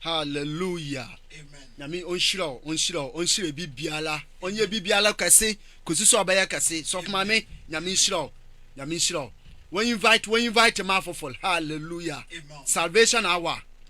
Hallelujah. Nyame ɔnhyira wo ɔnhyira wo ɔnhyira bi biara ɔnyɛ bi biara kɛse kɔsi so ɔbɛyɛ kɛse sɔfo maame Nyame nhyira wo Nyame nhyira wo wɔn invite wɔn invite ma afoforo hallelujah salvation hour.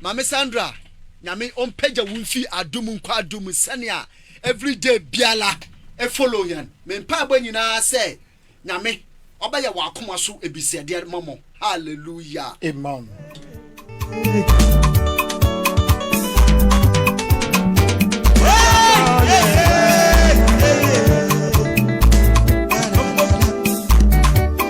Maame Sandra, Nyame ɔmpagya wo mfi adom mu nkɔ adom mu sɛnea every day biara ɛfollow yɛn. Me mpaebɔ nyinaa sɛ Nyame ɔbɛyɛ wɔ akoma so ebisɛdeɛ ma mo. Hallelujah. Amen.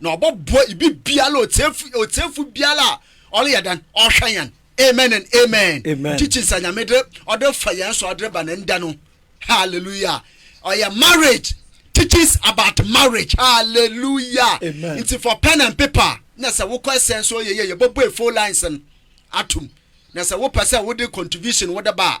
na ɔbɔboa ibi biara otiefo otiefo biara a ɔreyɛ dan ɔhwɛ yɛn amen and amen kyikyi nsa nyame de ɔde fa yɛn so ɔde ba ne nda no hallelujah ɔyɛ marriage teaches about marriage hallelujah nti for pen and paper na sɛ wokɔ ɛsɛn so yɛyɛ yɛbɔbɔ efo lines no atum na sɛ wopɛ sɛ wode contribution wode ba a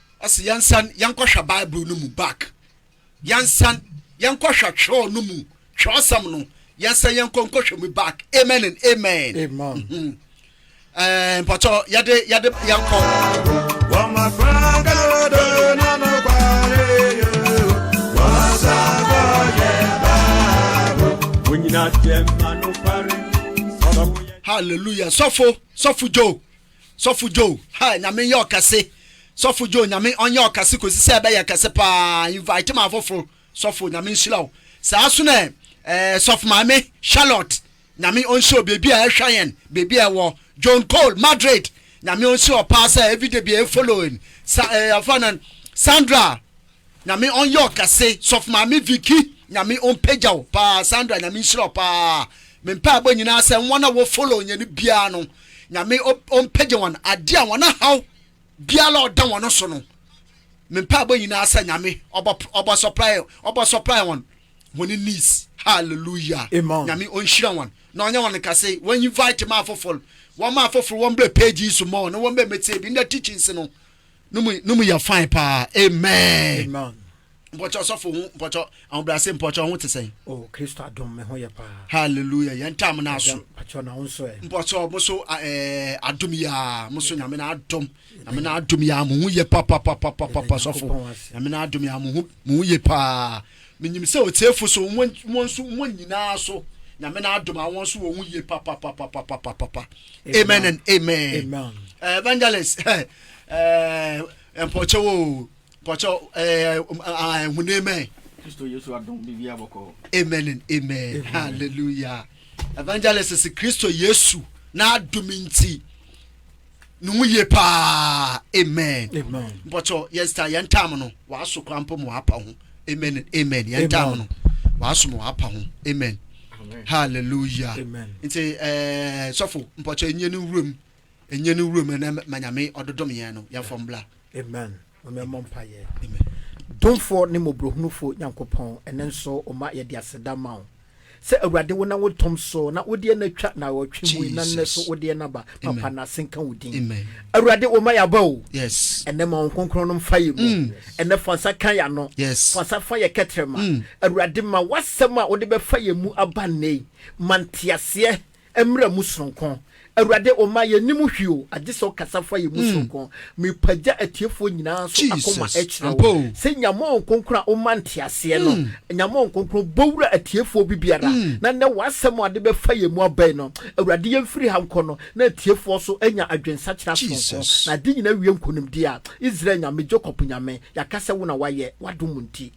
Ɔse yɛnsan yɛnkɔhwɛ Bible no mu back, yɛnsan yɛnkɔhwɛ twerɛ no mu, twerɛsɛm no, yɛnsan yɛnkɔ nkɔhwɛ mu back. Amen and amen. Amen. Mm-hmm. Eh, mpɔtɔ yɛde yɛde yɛnkɔ. Wɔn afra gado na no kware yo, wɔn sabo yɛ baabo. Wonyina jɛma no kware. Hallelujah. Sɔfo, sɔfo Joe. Sɔfo Joe ha nyame nyɛ ɔkɛse sɔfo Joe nyame ɔnyɛ ɔkɛse kosi sɛ ɛbɛyɛ kɛse paa invite ma afoforo sɔfo nyame nhyira wo saa so na ɛɛ sɔfo maame Charlotte nyame ɔnhyɛ wo baabi a ɛhwɛ yɛn baabi a ɛwɔ John Cole Madrid nyame ɔnhyɛ wɔ paa sɛ everyday bi a ɛfollow sa ɛɛ afa na Sandra Nyame ɔnyɛ wo kɛse. Sɔfo maame Vicky Nyame ɔmpagya wo paa Sandra Nyame nhyira wo paa me mpaebɔ nyinaa sɛ wɔn a wɔ follow yɛn no biara no Nyame ɔmpagya wɔn adeɛ a wɔn ahaw biara a ɔda wɔn so no me mpaebɔ nyinaa sɛ Nyame ɔbɔ supply ɔbɔ supply wɔn wɔn needs hallelujah Amen. Nyame ɔnhyira wɔn na ɔnyɛ wɔn kɛse wɔn invite ma afoforo wɔn ma afoforo wɔn brɛ page yi so mɔ na wɔn bɛ mɛtie bi na teachings no no mu no mu yɛ fine paa amen. amen. mpɔkyɛ ɔsɔfo ho mpɔkyɛ ahobrɛase mpɔkyɛ ho te sɛn. o oh, kristo adom me ho yɛ paa. hallelujah yɛn ntam no aso. mpɔkyɛ na wo nso ɛ. mpɔkyɛ mo so ɛɛ adom yia mo so nyame na adom nyame na adom yia mo ho yɛ papapapapapa sɔfo nyame na adom yia mo ho mo ho yɛ paa. Minyim sɛ otsiefo so, hɔn so, hɔn nyinara so, Nyame n'adom a hɔn so wɔ ho yie papapapapapapa. Amen and amen. Amen. Eh, evangelist, eh, eh, mpɔkyɛw o, mpɔkyɛw, eh, ah, ehun amen. Kristo Yesu adom bibi abɔkɔ. Amen and amen. amen. Hallelujah. Evangelist, Kristo Yesu n'adom nti, ne ho yie paa amen bɔtɔ yɛn star yɛn tam no w'aso kora mpo ma w'apa ho amen amen yɛn tam no w'aso ma w'apa ho amen hallelujah nti ɛɛ sɔfo mpɔtɔ enye ne wuram enye ne wuram ɛnɛ manyame ɔdodom yɛn no yɛn fɔm bla amen. Maame yɛmmɔ mpaeɛ. Amen. Domfoɔ ne mmɔborɔhunufoɔ Nyankopɔn, ɛnnɛ nso wo mma yɛde aseda ma wo sɛ Awurade wonam wo dom so na wodeɛ no atwa naawɔtwe mu yi na nnɛ so Jesus. wodeɛ no aba. Papa Amen. nnaase nka wo din. Amen. Awurade wo mma yɛaba o. Yes. Ɛnnɛ ma wo nkronkron no mfa yɛn mu. Mm. Ɛnnɛ fa nsa ka yɛn ano. Yes. Fa nsa fa yɛn kɛtrɛma. Mm. Awurade ma w'asɛm a wode bɛfa yɛn mu aba nnɛ yi. Ma nteaseɛ mmra mu sononko. Awurade, Oma yɛnnim hwee o, agye sɛ Ɔkasa fa yɛn mu sononko. Merepagya atiefoɔ nyinaa nso akoma kyerɛ Wo, sɛ Nyameɔn Kronkron a Woma nteaseɛ no, Nyameɔn Kronkron, bɔ wura atiefoɔ bi biara, na nnɛ W'asɛm a Ɔde bɛfa yɛn mu aba yi no, Awurade, yɛmfiri ha nkɔ no, na atiefoɔ nso anya adwensakyera sononko, na ade nyinaa awie nkonimdie a, Israel Nyame, Jacob Nyame, yɛaka sɛ Wo na Woayɛ, W'adom nti.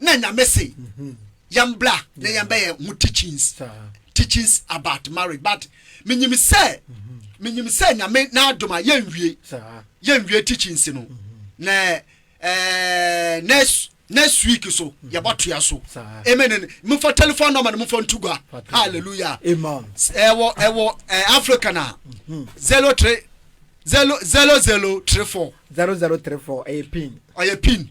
na nyame se yɛn bra na yɛn bɛyɛ ho teachings teachings about marriage but menyim sɛ menyim mhm. sɛ nyame n'adom a yɛnwie yɛnwie teachings no mhm. na ɛɛ eh, next next week so mhm. yɛbɔtoa so amen mfa telephone number no mfa nto gua hallelujah ɛwɔ ɛwɔ eh, africa na zero three zero zero zero three four zero zero three four ɛyɛ pin ɔyɛ pin.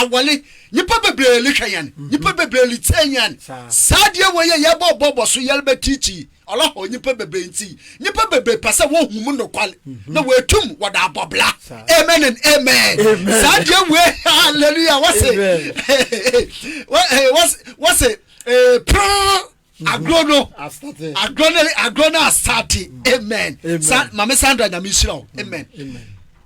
awale nnipa bebree lehwɛ yɛn mhm. nnipa bebree letie yɛn saa deɛ wɔ yɛ yɛbɔ bɔbɔ so yɛrebɛ tiikyii ɔlɔhɔ nnipa bebree nti nnipa bebree pɛ sɛ wɔhu mu nokwale mhm. na wɔatum wɔde abɔbla amen and amen saa deɛ wɔ hallelujah wɔse wɔse wɔse pere agorɔ no agorɔ no agorɔ no asate amen sa maame sandra nyame nhyira wo amen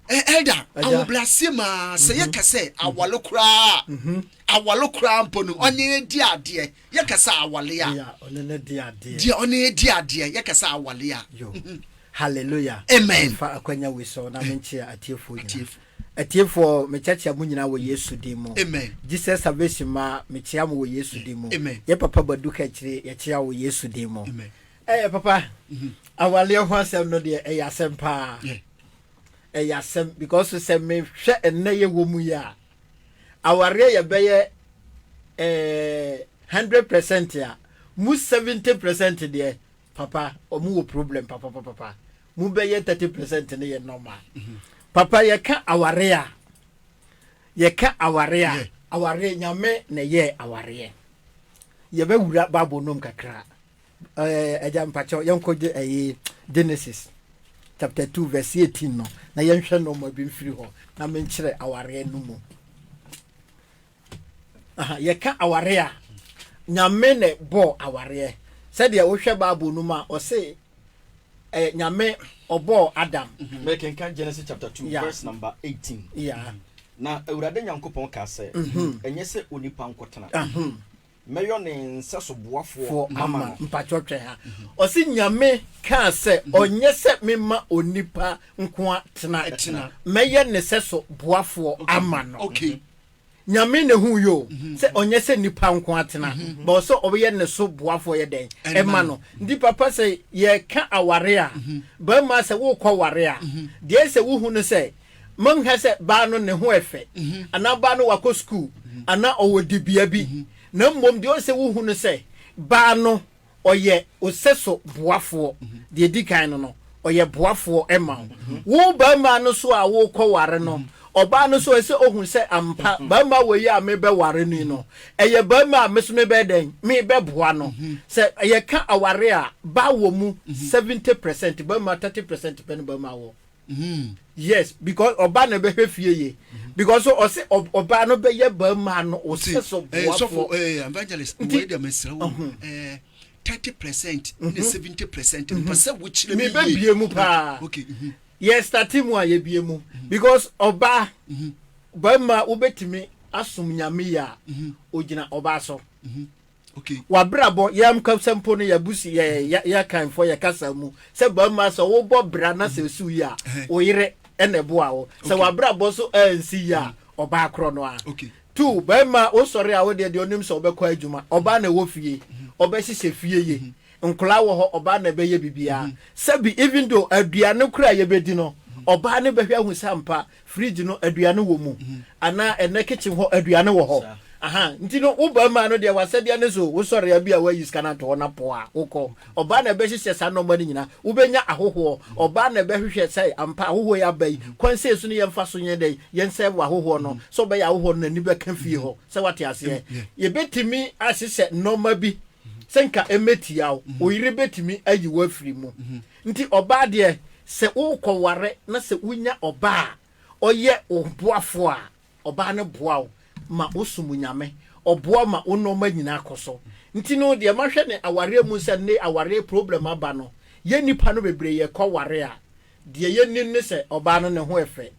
ɛda ahobrɛaseɛ maa sɛ mhm. yɛka sɛ mhm. awale koraa mhm. awale koraa mpo no ɔne di adeɛ yɛka sɛ awale a deɛ ɔne di adeɛ yɛka sɛ awale a hallelujah amen fa akwanya wi so na menkyea atiefoɔ nyinaa Atiefoɔ mekyɛkyea mo nyinaa wɔ Yesu din mu. Amen. Jesus Salvation mma mekyea mo wɔ Yesu din mu. Amen. Yɛ papa Badu Kakyire yɛkyea wo wɔ Yesu din mu. Amen. Ɛɛ papa, awaleɛ ho asɛm no deɛ ɛyɛ asɛm paa. Yeah. Ɛyɛ asɛm because sɛ mehwɛ ɛnnɛ yɛ wɔ mu yi a, awareɛ yɛ bɛyɛ ɛɛ hundred percent a, mu seventy percent deɛ Papa ɔmo wɔ problem papapapapa mu bɛyɛ thirty percent ne yɛ normal. Mhm. Papa yɛ ka aware a yɛ ka aware a aware nyame na yɛ awareɛ yɛ bɛ wura baabo nom kakra ɛɛ ɛgya mpakyɛw yɛn kɔ gye ɛyɛ Genesis chapter two verse eighteen no na yɛn hwɛ nɔɔma bi nfiri hɔ na menkyerɛ awareɛ no mu. Aha, yɛka aware a, Nyame na bɔɔ awareɛ. Sɛdeɛ wohwɛ Bible no mu a, ɔse eh, Nyame ɔbɔɔ Adam. Mhm. Mekenka Genesis chapter 2 yeah. verse number 18. Yeah. Na Awurade Nyankopɔn kaa sɛ, mhm. ɛnyɛ sɛ onipa nkɔtena. Mɛyɔ ne nsɛso boafoɔ Foɔ ama ama no. no. Mpakyɛw twɛn ha. Ɔse Nyame kaa sɛ ɔnyɛ sɛ mema onipa nkoa tena. Tena. Mɛyɛ ne sɛso boafoɔ ama no. Okay. Nyame na ehuu yoo sɛ ɔnyɛ sɛ nipa nkoa tena but ɔsɛ ɔbɛyɛ ne so boafoɔ yɛ dɛn Ɛma ɛma no. no. Nti papa sɛ yɛka aware a bɛrima sɛ wokɔ ware a deɛ ɛsɛ sɛ wohu no sɛ Monnhwɛ sɛ baa no ne ho ɛfɛ, anaa baa no wakɔ sukuu, anaa ɔwɔ dibea bi, na mmom deɛ ɔsɛ wohu no sɛ, baa no ɔyɛ wo sɛso boafoɔ, deɛ ɛdi kan no no, ɔyɛ boafoɔ ma wo. Wo barima no so a worekɔ ware no, ɔbaa no so ɛsɛ ɔhu sɛ ampa barima wei a merebɛware no yi no, ɛyɛ barima a me so mebɛyɛ dɛn, merebɛboa no. Sɛ yɛka awareɛ a, baa wɔ mu 70 percent, barima 30 percent pɛ na barima wɔ. Hmm. yes because ɔba na ɛbɛhwɛ fie yie mhm. because so ɔsɛ ɔba no bɛyɛ barima no ɔsɛ so eh, boafoɔ eh, evangelist wei deɛ mesrɛ wo mhm. eh, thirty percent ne mhm. seventy percent mpa sɛ wokyerɛ me yie mebɛbie mu paa okay yɛ starte mu a yɛbie mu because ɔba barima wobɛtumi asom nyame yɛ a ɔgyina ɔba so Okay. Wabrabɔ, yɛ mkasa mpo no yɛabusu yɛ yɛ yɛ kanfoɔ yɛ kasa mu sɛ barima sɛ wobɔ bra na sɛ esu yɛ a wo yere ɛna ɛboa wo sɛ wabrabɔ so ansi yɛ a ɔbaa korɔ no a Okay. tu barima wosɔre a wodeɛ deɛ onim sɛ ɔbɛkɔ adwuma ɔbaa na ɛwɔ fie ɔbɛhyehyɛ fie yie nkwadaa wɔ hɔ ɔbaa na ɛbɛyɛ biribiara sɛbi even though aduane koraa a yɛbɛdi no ɔbaa ne bɛhwɛ ahu sɛ ampa fridge no aduane wɔ mu anaa ɛnɛ kitchen hɔ aduane wɔ hɔ ahan nti no wo barima no deɛ wasɛdeɛ ne so wosɔre abi a wayi sika no ato hɔ na po a wokɔ ɔbaa na ɛbɛhyehyɛ saa nɔɔma no nyinaa wobɛnya ahohoɔ ɔbaa na ɛbɛhwehwɛ sɛ ampa ahohoɔ yi aba yi kwan sei so ne yɛmfa so yɛn dɛn yɛn sɛ wɔ ahohoɔ no sɛ ɔbɛyɛ ahohoɔ no n'ani bɛka fie hɔ sɛ wate aseɛ yɛbɛtumi ahyehyɛ nɔɔma bi sɛ nka ɛmɛtia wo oyere bɛtumi ayi wo afiri mu Nti ɔbaa deɛ, sɛ worekɔware na sɛ wonya ɔbaa a ɔyɛ wo boafoɔ a, ɔbaa no boa wo ma wosom Nyame, ɔboa wo ma wo nnoɔma nyinaa kɔ so. Nti no deɛ mahwɛ ne awareɛ mu sɛ nnɛ awareɛ problem aba no, yɛ nnipa no bebree yɛkɔware a, deɛ yɛnim ne sɛ ɔbaa no ne ho ɛfɛ,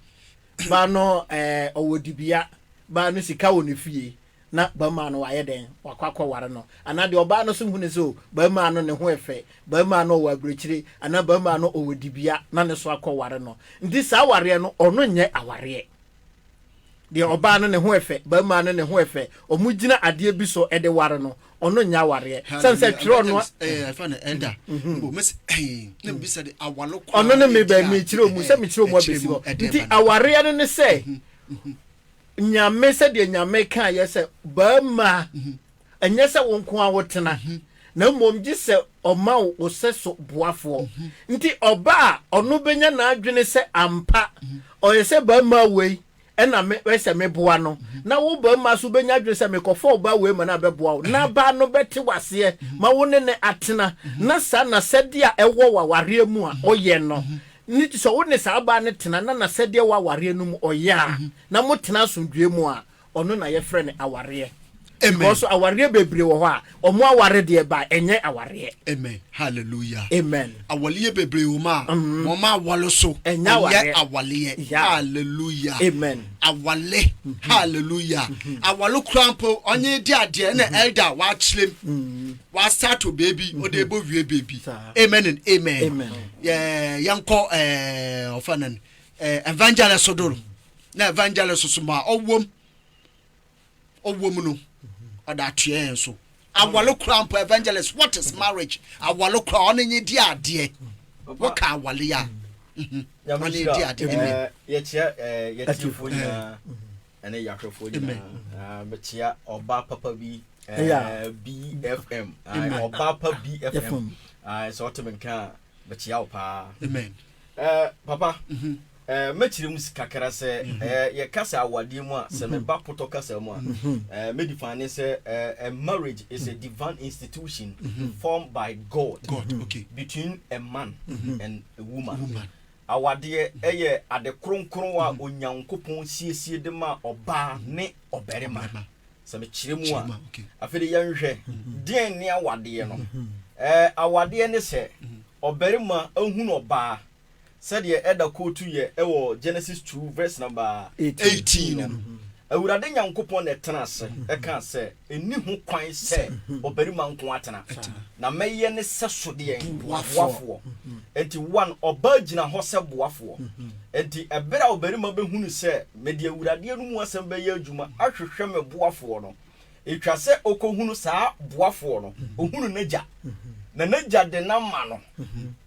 baa no ɔwɔ dibea, baa no sika wɔ ne fie, na barimaa no wayɛ dɛn? Wakɔ akɔware no. Anaa deɛ ɔbaa no nso hu no sɛ o, barimaa no ne ho yɛ fɛ, barimaa no ɔwɔ abirekyire, anaa barimaa no ɔwɔ dibea, na ne nso akɔware no. Nti saa awareɛ no, ɔno nyɛ awareɛ. Deɛ ɔbaa no ne ho yɛ fɛ, barimaa no ne ho yɛ fɛ, wɔgyina adeɛ bi so de ware no, ɔno nyɛ awareɛ. Sɛne sɛ twerɛ no a. Ɛfa no ɛda. Mbom mese na mebisa de awalo koraa. Ɔno ne me bɛ, mekyerɛ mu sɛ mekyerɛ mu abɛsi hɔ. Nti awareɛ no ne sɛ. Nyame, sɛdeɛ Nyame kaeɛ sɛ, Barima, ɛnyɛ sɛ wo nko ara wotena, na mmom gye sɛ ɔma wo wo sɛso boafoɔ. Nti ɔba a, ɔno bɛnya n'adwene sɛ ampa ɔyɛ sɛ barima wei na me ɛyɛ sɛ meboa no, na wo barima nso wobɛnya adwene sɛ mekɔfa ɔbaa wei ma no a bɛboa wo, na abaa no bɛte wo aseɛ ma wo ne no atena, na saa na sɛdeɛ a ɛwɔ wɔ awareɛ mu a ɔyɛ no. ne ti sɛ wo ne saa baa no tena na n'asɛdeɛ wɔ awareɛ no mu ɔyɛ a na mo tena asomdwoeɛ mu a ɔno na yɛfrɛ no awareɛ because so awareɛ bebree wɔ hɔ a ɔmo aware deɛ ba ɛnyɛ awareɛ. Amen hallelujah Amen awaleɛ bebree wɔ mu a wɔn aware so ɛnyɛ awaleɛ hallelujah Amen awale hallelujah awale koraa mpo ɔnye di adeɛ ɛna elder a wakyerɛ mu. wasato beebi mhm. ɔde bɔ wie beebi amen and amen yɛnkɔ eh, ɔfa no eh, evangelist do no na evangelist so ma ɔwom ɔwom no ɔde atoɛ yɛn so awale kora mpo evangelist what is marriage awale kora ɔne nye di adeɛ wɔka awale a mhm. ɔne di adeɛ eh, yɛkyerɛ yɛtiefo nyinaa ɛne yɛahwɛfoɔ nyinaa bɛkyea ɔba papa bi bfm ɔba pa bfm sɛ ɔteme nka a bɛkyea wo paa papa mhm. mɛkyerɛ mu kakra sɛ mhm. yɛka sɛ awadeɛ mu a sɛ mhm. meba potɔ kasa mu a mɛdi fa ne sɛ marriage is a divine institution formed by god between a man and a woman Awadeɛ yɛ ade kronkron a Onyankopɔn siesie de ma ɔbaa ne ɔbarima. Sɛ mekyerɛ mu a, afei de yɛnhwɛ deɛn ne awadeɛ no. Awadeɛ ne sɛ ɔbarima hunu ɔbaa sɛdeɛ ɛda kootu yɛ wɔ Genesis two verse number eighteen no. Awurade Nyankopɔn na ɛtenaa ase kaa sɛ, Nni ho kwan sɛ ɔbarima nko ara tena, na mɛyɛ ne sɛso deɛn? Boafoɔ. Enti, one, ɔbaa gyina hɔ sɛ boafoɔ. Enti, ɛberɛ a ɔbarima bɛhunu sɛ mede Awurade no mu asɛm bɛyɛ adwuma ahwehwɛ me boafoɔ no, ɛtwa sɛ ɔkɔhunu saa boafoɔ no, ɔhunu n'agya, na n'agya de no ama no.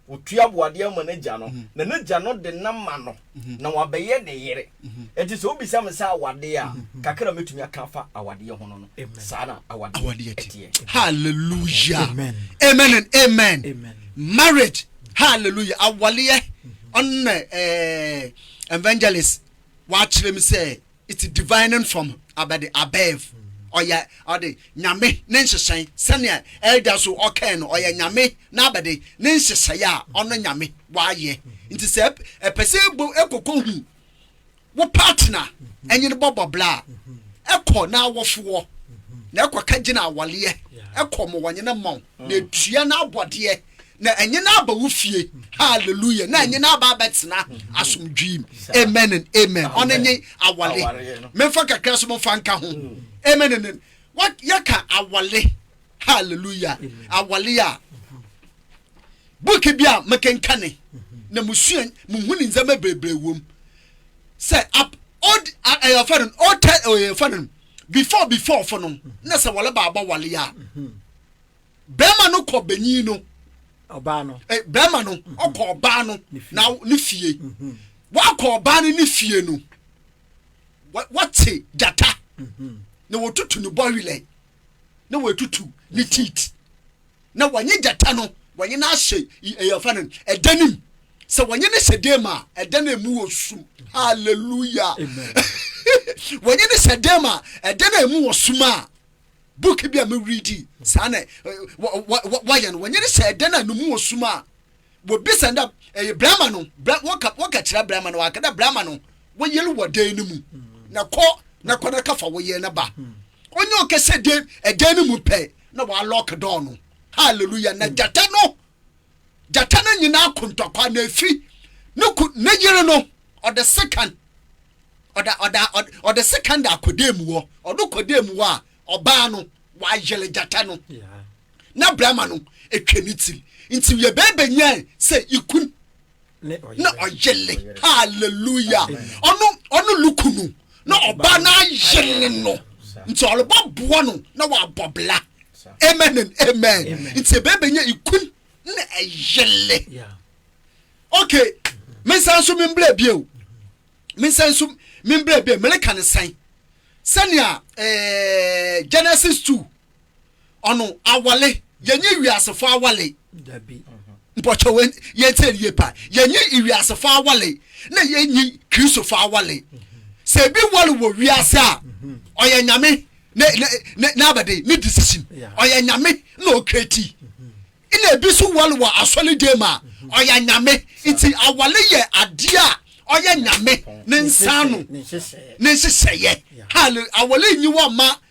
Ɔtua aboadeɛ ma n'agya no, na n'agya no de nam ma no, na wabɛyɛ ne yere. Enti sɛ wobisa me sɛ awadeɛ a, kakra a mɛtumi aka afa awadeɛ ho no no, saa na awadeɛ teɛ. Hallelujah. Amen. Amen and amen. Amen. Marriage. Hallelujah. Awaleɛ. Ɔno na eh, evangelist wakyerɛ me sɛ It's divining from about the above. Ɔyɛ ɔde nyame ne nhyehyɛe sɛnea ɛda so ɔkɛn no ɔyɛ nyame na abɛde ne nhyehyɛe a ɔno nyame wayɛ nti sɛ ɛpɛ sɛ ɛbɔ ɛkɔkɔ hu wo partner ɛnye no bɔbɔ bla a ɛkɔ na awɔfoɔ na ɛkɔ ka gyina awaleɛ ɛkɔ mo wɔnye no mmɔn na ɛtua na abɔdeɛ na ɛnyɛ no aba wo fie hallelujah na ɛnyɛ no aba abɛtena asomdwee amen and amen ɔno nye awale memfa kakra so momfa nka ho amen and yɛka awale hallelujah awale a buki bi a mekenkane na musua muhu ne ndzɛmba bebree wom sɛ ab old ɛyɛ ɔfɛ no old tɛ ɛyɛ ɔfɛ no before before fo no na sɛ wɔle baabɔ wale a. Mm -hmm. Bɛrima no kɔ benyin no. Ɔbaa no. Eh, bɛrima no mhm. ɔkɔ ɔbaa no na ne fie. Mhm. Wakɔ ɔbaa no ne fie no wɔte gyata mhm. na wɔtutu ne bɔwelɛ na wɔatutu ne teat na wɔnye gyata no wɔnye no ahyɛ ɛyɛfa no ɛda no mu sɛ wɔnye no hyɛ dam a ɛda no mu wɔ sum halleluya wɔnye no hyɛ dam a ɛda no mu wɔ sum a Book bi a me readi saa na wɔyɛ no wɔnyɛ no sɛ ɛdan a numu wɔ sum a wɔbisa no dɛ ɛyɛ brɛma no wɔka kyerɛ brɛma no wɔaka dɛ brɛma no wɔyere wɔ dan no mu na kɔ na kɔ na kafa wɔyere no ba onye ɔkɛsɛ dan ɛdan no mu pɛ na wɔalɔk dɔɔ no hallelujah na gyata no gyata no nyinaa ko ntɔkwa na efi ne ku ne yere no ɔde sekan ɔda ɔda ɔde sekan da akɔda mu hɔ ɔdo kɔda mu hɔ a ɔbaa no wayere gyata no na brama no etwa ne tiri nti yɛ bɛɛbɛ nyɛ sɛ ikun na ɔyele hallelujah ɔno ɔno luku no na ɔba na ayele no nti ɔleba boa no na wabɔ bla amen and amen nti ebe benya ikun na ɛyele okay mensan so membrɛ bio mensan so membrɛ bio meleka ne sɛn sɛnea ɛɛ eh, genesis two ɔno awale yɛnye wiasefo awale mpɔkyɛ wɔ yɛntie yie pa yɛnye wiasefo awale na yɛnyi kristofo awale sɛ ebi wale wɔ wiase a ɔyɛ nyame n'abɛde ne decision ɔyɛ nyame na ɔkreti na ebi so wale wɔ asɔre dan mu a ɔyɛ nyame nti awale yɛ adeɛ a ɔyɛ nyame ne nsa no ne nhyehyɛeɛ awale nyi wɔ ma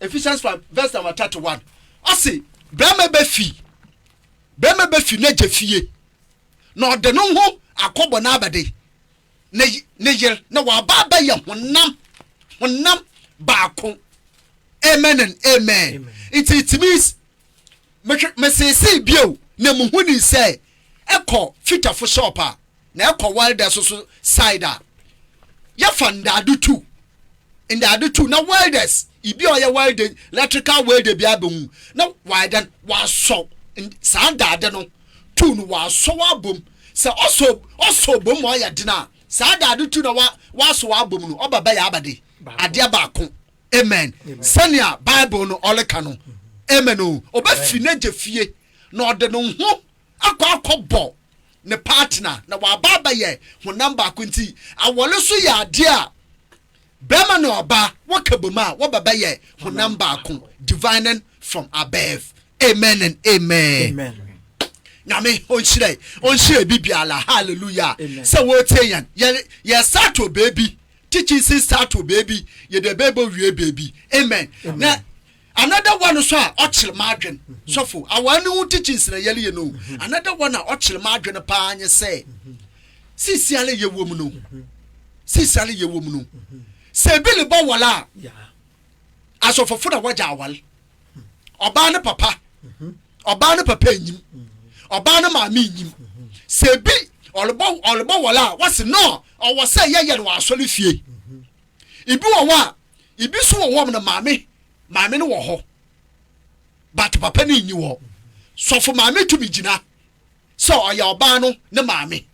ephesians five verse number thirty one ɔsi bɛrima bɛ fi bɛrima bɛ fi n'agya fie na ɔde no ho akɔbɔ n'abɛde ne ne yere na waba abɛyɛ honam honam baako amen and amen nti it means mesese bio na muhu ni sɛ ɛkɔ fita fo shop a na ɛkɔ welder so so side a yɛfa ndaado tu ndaado tu na welders ibi a ɔyɛ welding electrical welder bi abɛhu na wadan wasɔ saa ndaade no tu no wasɔ wabom sɛ ɔsɔ ɔsɔ bom ma ɔyɛ den a saa daade tu na wa wasɔ wabom no ɔba bɛyɛ abade adeɛ baako. Amen. Sɛnea Bible no ɔreka no. Amen o. Ɔbɛfi n'agya fie na ɔde ne ho akɔ akɔbɔ ne partner na waba abɛyɛ honam baako nti awɔre so yɛ adeɛ a bɛrima na ɔbaa wɔka bom a wɔbɛbɛyɛ honam baako divining from above. Amen and amen. Amen. nyame ɔnhyira ɔnhyira bi biara hallelujah sɛ wɔretie yɛn yɛ yɛ start wɔ baabi teaching si start to baby yɛ de bɛbɔ wie baby amen na another one so a ɔkyerɛ m'adwen sɔfo awa ne ho teachings na yɛleyɛ no another one a ɔkyerɛ m'adwen paa nye sɛ sisi ale yɛ wɔm no sisi ale yɛ wɔm no sɛ ebi ne bɔ wɔla a asɔfofo na wɔgya awale. ɔbaa ne papa ɔbaa ne papa enyim ɔbaa ne maame enyim sɛ ebi ɔlebɔ ɔlebɔ wɔle a wɔsi no ɔwɔ sɛ yɛyɛ no wɔ asɔre fie ebi wɔ hɔ a ebi so wɔ hɔ no maame maame no wɔ hɔ but papa no nyi wɔ sɔfo maame tumi gyina. sɛ ɔyɛ ɔbaa no ne maame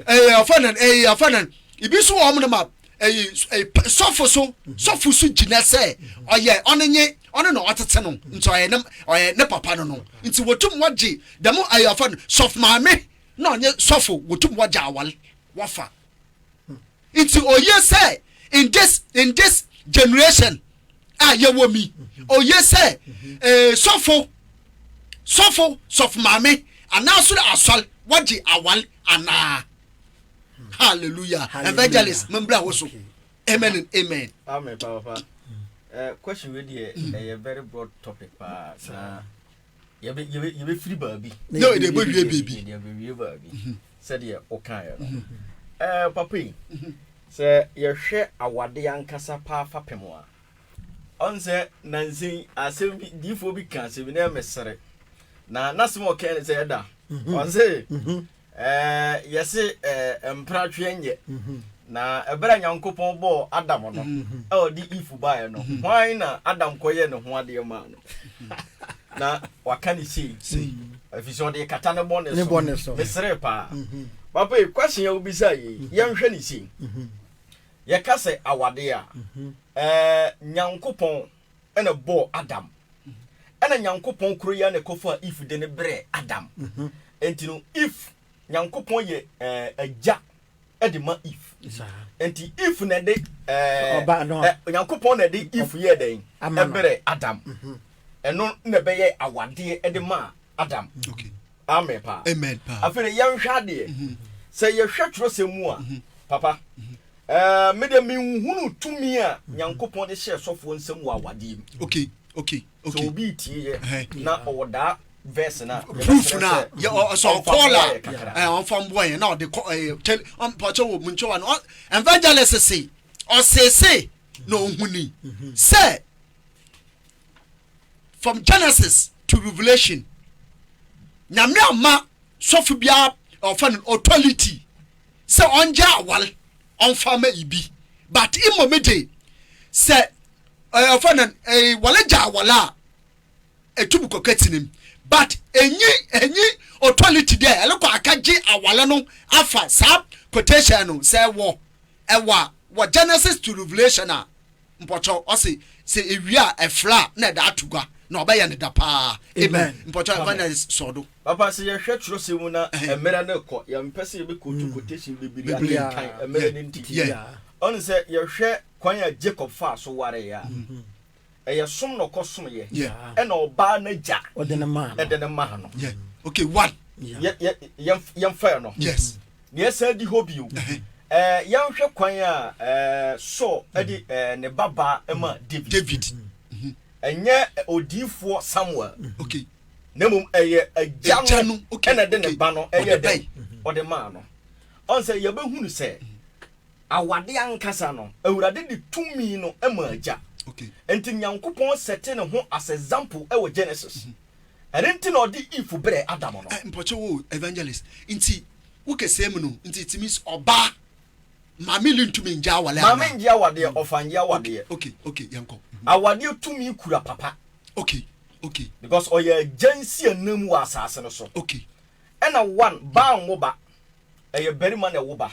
ɛyɛ ɔfɛ no ɛyɛ ɔfɛ no ebi nso wɔn no ma ɛyɛ sɔfo so sɔfo so gyina sɛ ɔyɛ ɔne nye ɔne na ɔtete no nti ɔyɛ ne ɔyɛ ne papa no no nti wɔtum wɔgye dɛm ɛyɛ ɔfɛ no sɔfo maame na ɔnye sɔfo wɔtum wɔgye awale wɔfa. nti oye sɛ in this in this generation a yɛwɔ mi oye sɛ eh, sɔfo sɔfo sɔfo maame anaaso dɛ asɔre wɔgye awale anaa hallelujah evangelist membra wo so amen and amen. amen papa uh, eh, question wey deɛ ɛyɛ eh, very broad topic paa saa. yɛbɛfiri baabi na yɛbɛwie baabi yɛbɛwie baabi mhm. sɛdeɛ wokaeɛ no mhm. eh, papa yi mhm. sɛ yɛhwɛ awade ankasa paa fapem a ɔn sɛ nansen asɛm bi diifoɔ bi ka asɛm bi na ɛmɛsere na n'asɛm a ɔkae no sɛ ɛda ɔn sɛ Ɛɛ, yɛse ɛɛ, mpra twe nyɛ. Na ɛberɛ a Nyankopɔn bɔɔ Adam no, a ɔde Eve baeɛ no, hwan na Adam kɔyɛɛ ne ho adeɛ maa no? Na waka ne sei, ɛfiri sɛ ɔde rekata ne bɔne so. Meseree paa. Papa yi, question a wobisaa yei, yɛnhwɛ no sei, Yɛka sɛ awadeɛ a, ɛɛ, Nyankopɔn ɛna bɔɔ Adam. Ɛna Nyankopɔn koro yɛ na ɛkɔfaa Eve de ne brɛɛ Adam. Enti no, Eve, Nyankopɔn yɛ ɛɛ agya de ma Eve. Enti Eve na ɛde ɛɛ Nyankopɔn na ɛde Eve yɛɛ dɛn? Ɛbrɛɛ Adam. Ɛno na ɛbɛyɛ awadeɛ de maa Adam. Okay. Amen paa. Amen paa. Afei de yɛnhwɛ adeɛ. Mhm. Sɛ yɛhwɛ twerɛsɛm mu a, mhm. papa, mhm. eh, me deɛ menhunu tumi a Nyankopɔn de hyɛ sɔfoɔ nsɛm wɔ awadeɛ mu. Okay, okay, okay. Sɛ obi tie yɛ na ɔwɔ daa verse na proof na yɛ ɔsɔ kɔɔla ɛ ɔnfa mbɔ yɛn na ɔde kɔ ɛ tɛl ɔmpɔtɔ wɔ mu nkyɛn wa no evangelist se ɔsese na ohuni sɛ from genesis to revelation nyame ama sɔfo biara ɔfa no authority sɛ ɔngya aware ɔmfa ma ibi but mmom de sɛ ɔfa no wale gya awale a ɛtu bu kɔkɛ tinim but ɛnyi ɛnyi authority dɛ ɛlekɔ akagye awale no afa saa quotation no sɛ ɛwɔ ɛwɔ wɔ genesis to revelation a Mpɔkyɛw ɔse sɛ ewie a ɛfrɛ a na ɛda ato gua na ɔbɛyɛ no da paa amen mpɔkyɛw evangelist sɔɔ do. Papa sɛ yɛhwɛ twerɛsɛm mu na mmerɛ no rekɔ yɛmpɛ sɛ yɛbɛ quote quotation bebree akenkan mmerɛ no nti ɔne sɛ yɛhwɛ kwan a Jacob faa so wareɛ a ɛyɛ som na ɔkɔ som yɛ ɛna ɔbaa n'agya ɛde ne maa no okay one yɛmfa yɛ no Nea ɛsan adi hɔ bio, yɛnhwɛ kwan a Saul de ne babaa ma David. Ɛnyɛ odiyifoɔ Samuel, na mmom ɛyɛ agya no na ɛde ne ba no yɛ dɛ ɔde maa no. Ɔn sɛ yɛbɛhunu sɛ awade ankasa no, Awurade de tumi no ma agya. Nti Nyankopɔn sɛte ne ho as example wɔ Genesis. Ɛno nti na ɔde Eve brɛɛ Adam no. Mpɔkyɛ wo evangelist nti wo kɛsɛɛ mu no nti it means ɔbaa Maame Lee ntumi ngye awareɛ anaa? Maame ngye awadeɛ, ɔfa ngye awadeɛ. Okay, okay, yɛn kɔ. Mhm. Awadeɛ tumi kura papa. Okay, okay. Because ɔyɛ agya nsi anam wɔ asaase no so. Okay. Ɛna one, baa nwo ba. Ɛyɛ barima na ɛwo ba.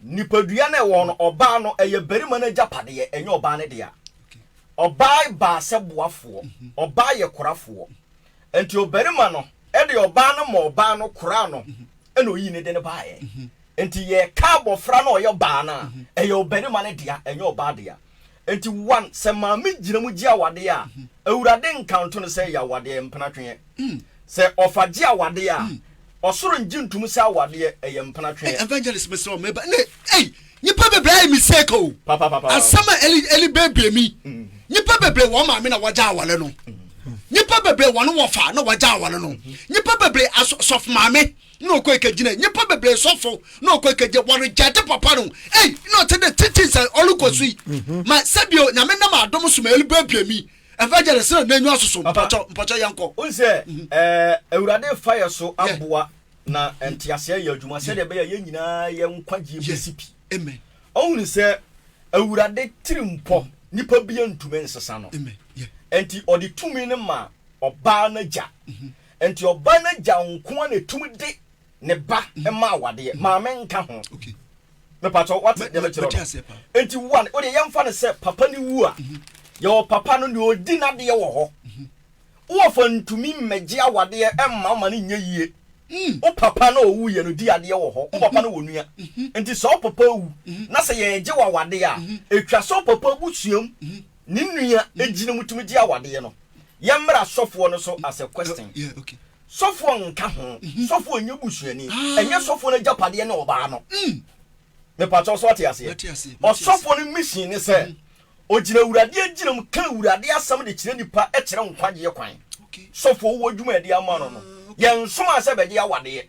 Nipadua no a ɛwɔ hɔ no, ɔbaa no, ɛyɛ barima no agyapadeɛ, ɛnyɛ ɔbaa no dea. Ɔbaa baa sɛ boafoɔ, ɔbaa yɛ korafoɔ. Nti ɔbarima no de ɔbaa no ma ɔbaa no koraa no na ɔyii ne de no baeɛ. Nti yɛreka abɔfra no a ɔyɛ ɔbaa no a, ɛyɛ ɔbarima no dea, ɛnyɛ ɔbaa dea. Enti one, sɛ maame gyina mu gye awadeɛ a, Awurade nka nto no sɛ ɛyɛ awadeɛ, mpenatweɛ. Sɛ ɔfa gye awadeɛ a, ɔsoro ngye ntom sɛ awadeɛ, ɛyɛ mpenatweɛ. Evangelist mesrɛ wo meba ne ei nipa bebree ayɛ mistake o asɛm a eli eli bebree mi nipa bebree wɔn maame na wɔgya awale no nipa bebree wɔn wɔfa na wɔgya awale no nipa bebree asɔ sɔfo maame na ɔkɔe kɔgyinaa nnipa bebree sɔfo na ɔkɔe kɔgye wɔregyaate papa no ei na ɔte dɛ titi sɛ ɔrekɔ so yi mm-hmm. ma sɛbio nyame nam adom so ma ɛlibuabua mi evangelist na n'enyi asoso mpɔkyɛ mpɔkyɛ yɛn kɔ. n sɛ ɛɛ mm-hmm. eh, awurade fa yɛ so aboa na mm-hmm. nteaseɛ yɛ adwuma sɛdeɛ ɛbɛyɛ yɛn nyinaa yɛn nkwagyeɛ bɛsi pi ɔhunu sɛ awurade tiri mpɔ nipa bi ntumi nsesa no nti ɔde tumi no ma ɔbaa no agya Enti ɔbaa no agya nko ara na etumi de ne ba ma awadeɛ, maame nka ho. Mepatɔ, wate deɛ mekyerɛ no? Enti one, wodeɛ yɛmfa no sɛ papa no wu a, yɛwɔ papa no deɛ ɔdi n'adeɛ wɔ hɔ. Woɔfa ntumi mmɛgye awadeɛ mma wo ma no nyɛ yie. Wo papa no a ɔwuiɛ no di adeɛ wɔ hɔ. Wo papa no wɔ nua. Enti sɛ wo papa wu na sɛ yɛregye wo awadeɛ a, ɛtwa sɛ wo papa abusua mu Ne nua gyina mu tumi gye awadeɛ no. Yɛmmra sɔfoɔ no so as a question. Sɔfoɔ nka ho. Sɔfoɔ nyɛ busuani. Ɛnyɛ sɔfoɔ no agyapadeɛ ne ɔbaa no. Mepakyɛw so ate aseɛ? Ɔsɔfoɔ no mission ne sɛ ɔgyina Awurade agyina mu ka Awurade asɛm de kyerɛ nnipa kyerɛ nkwagyeɛ kwan. Sɔfoɔ wɔ adwuma a ɛde ama no no. Yɛnsomaa sɛ bɛgye awadeɛ.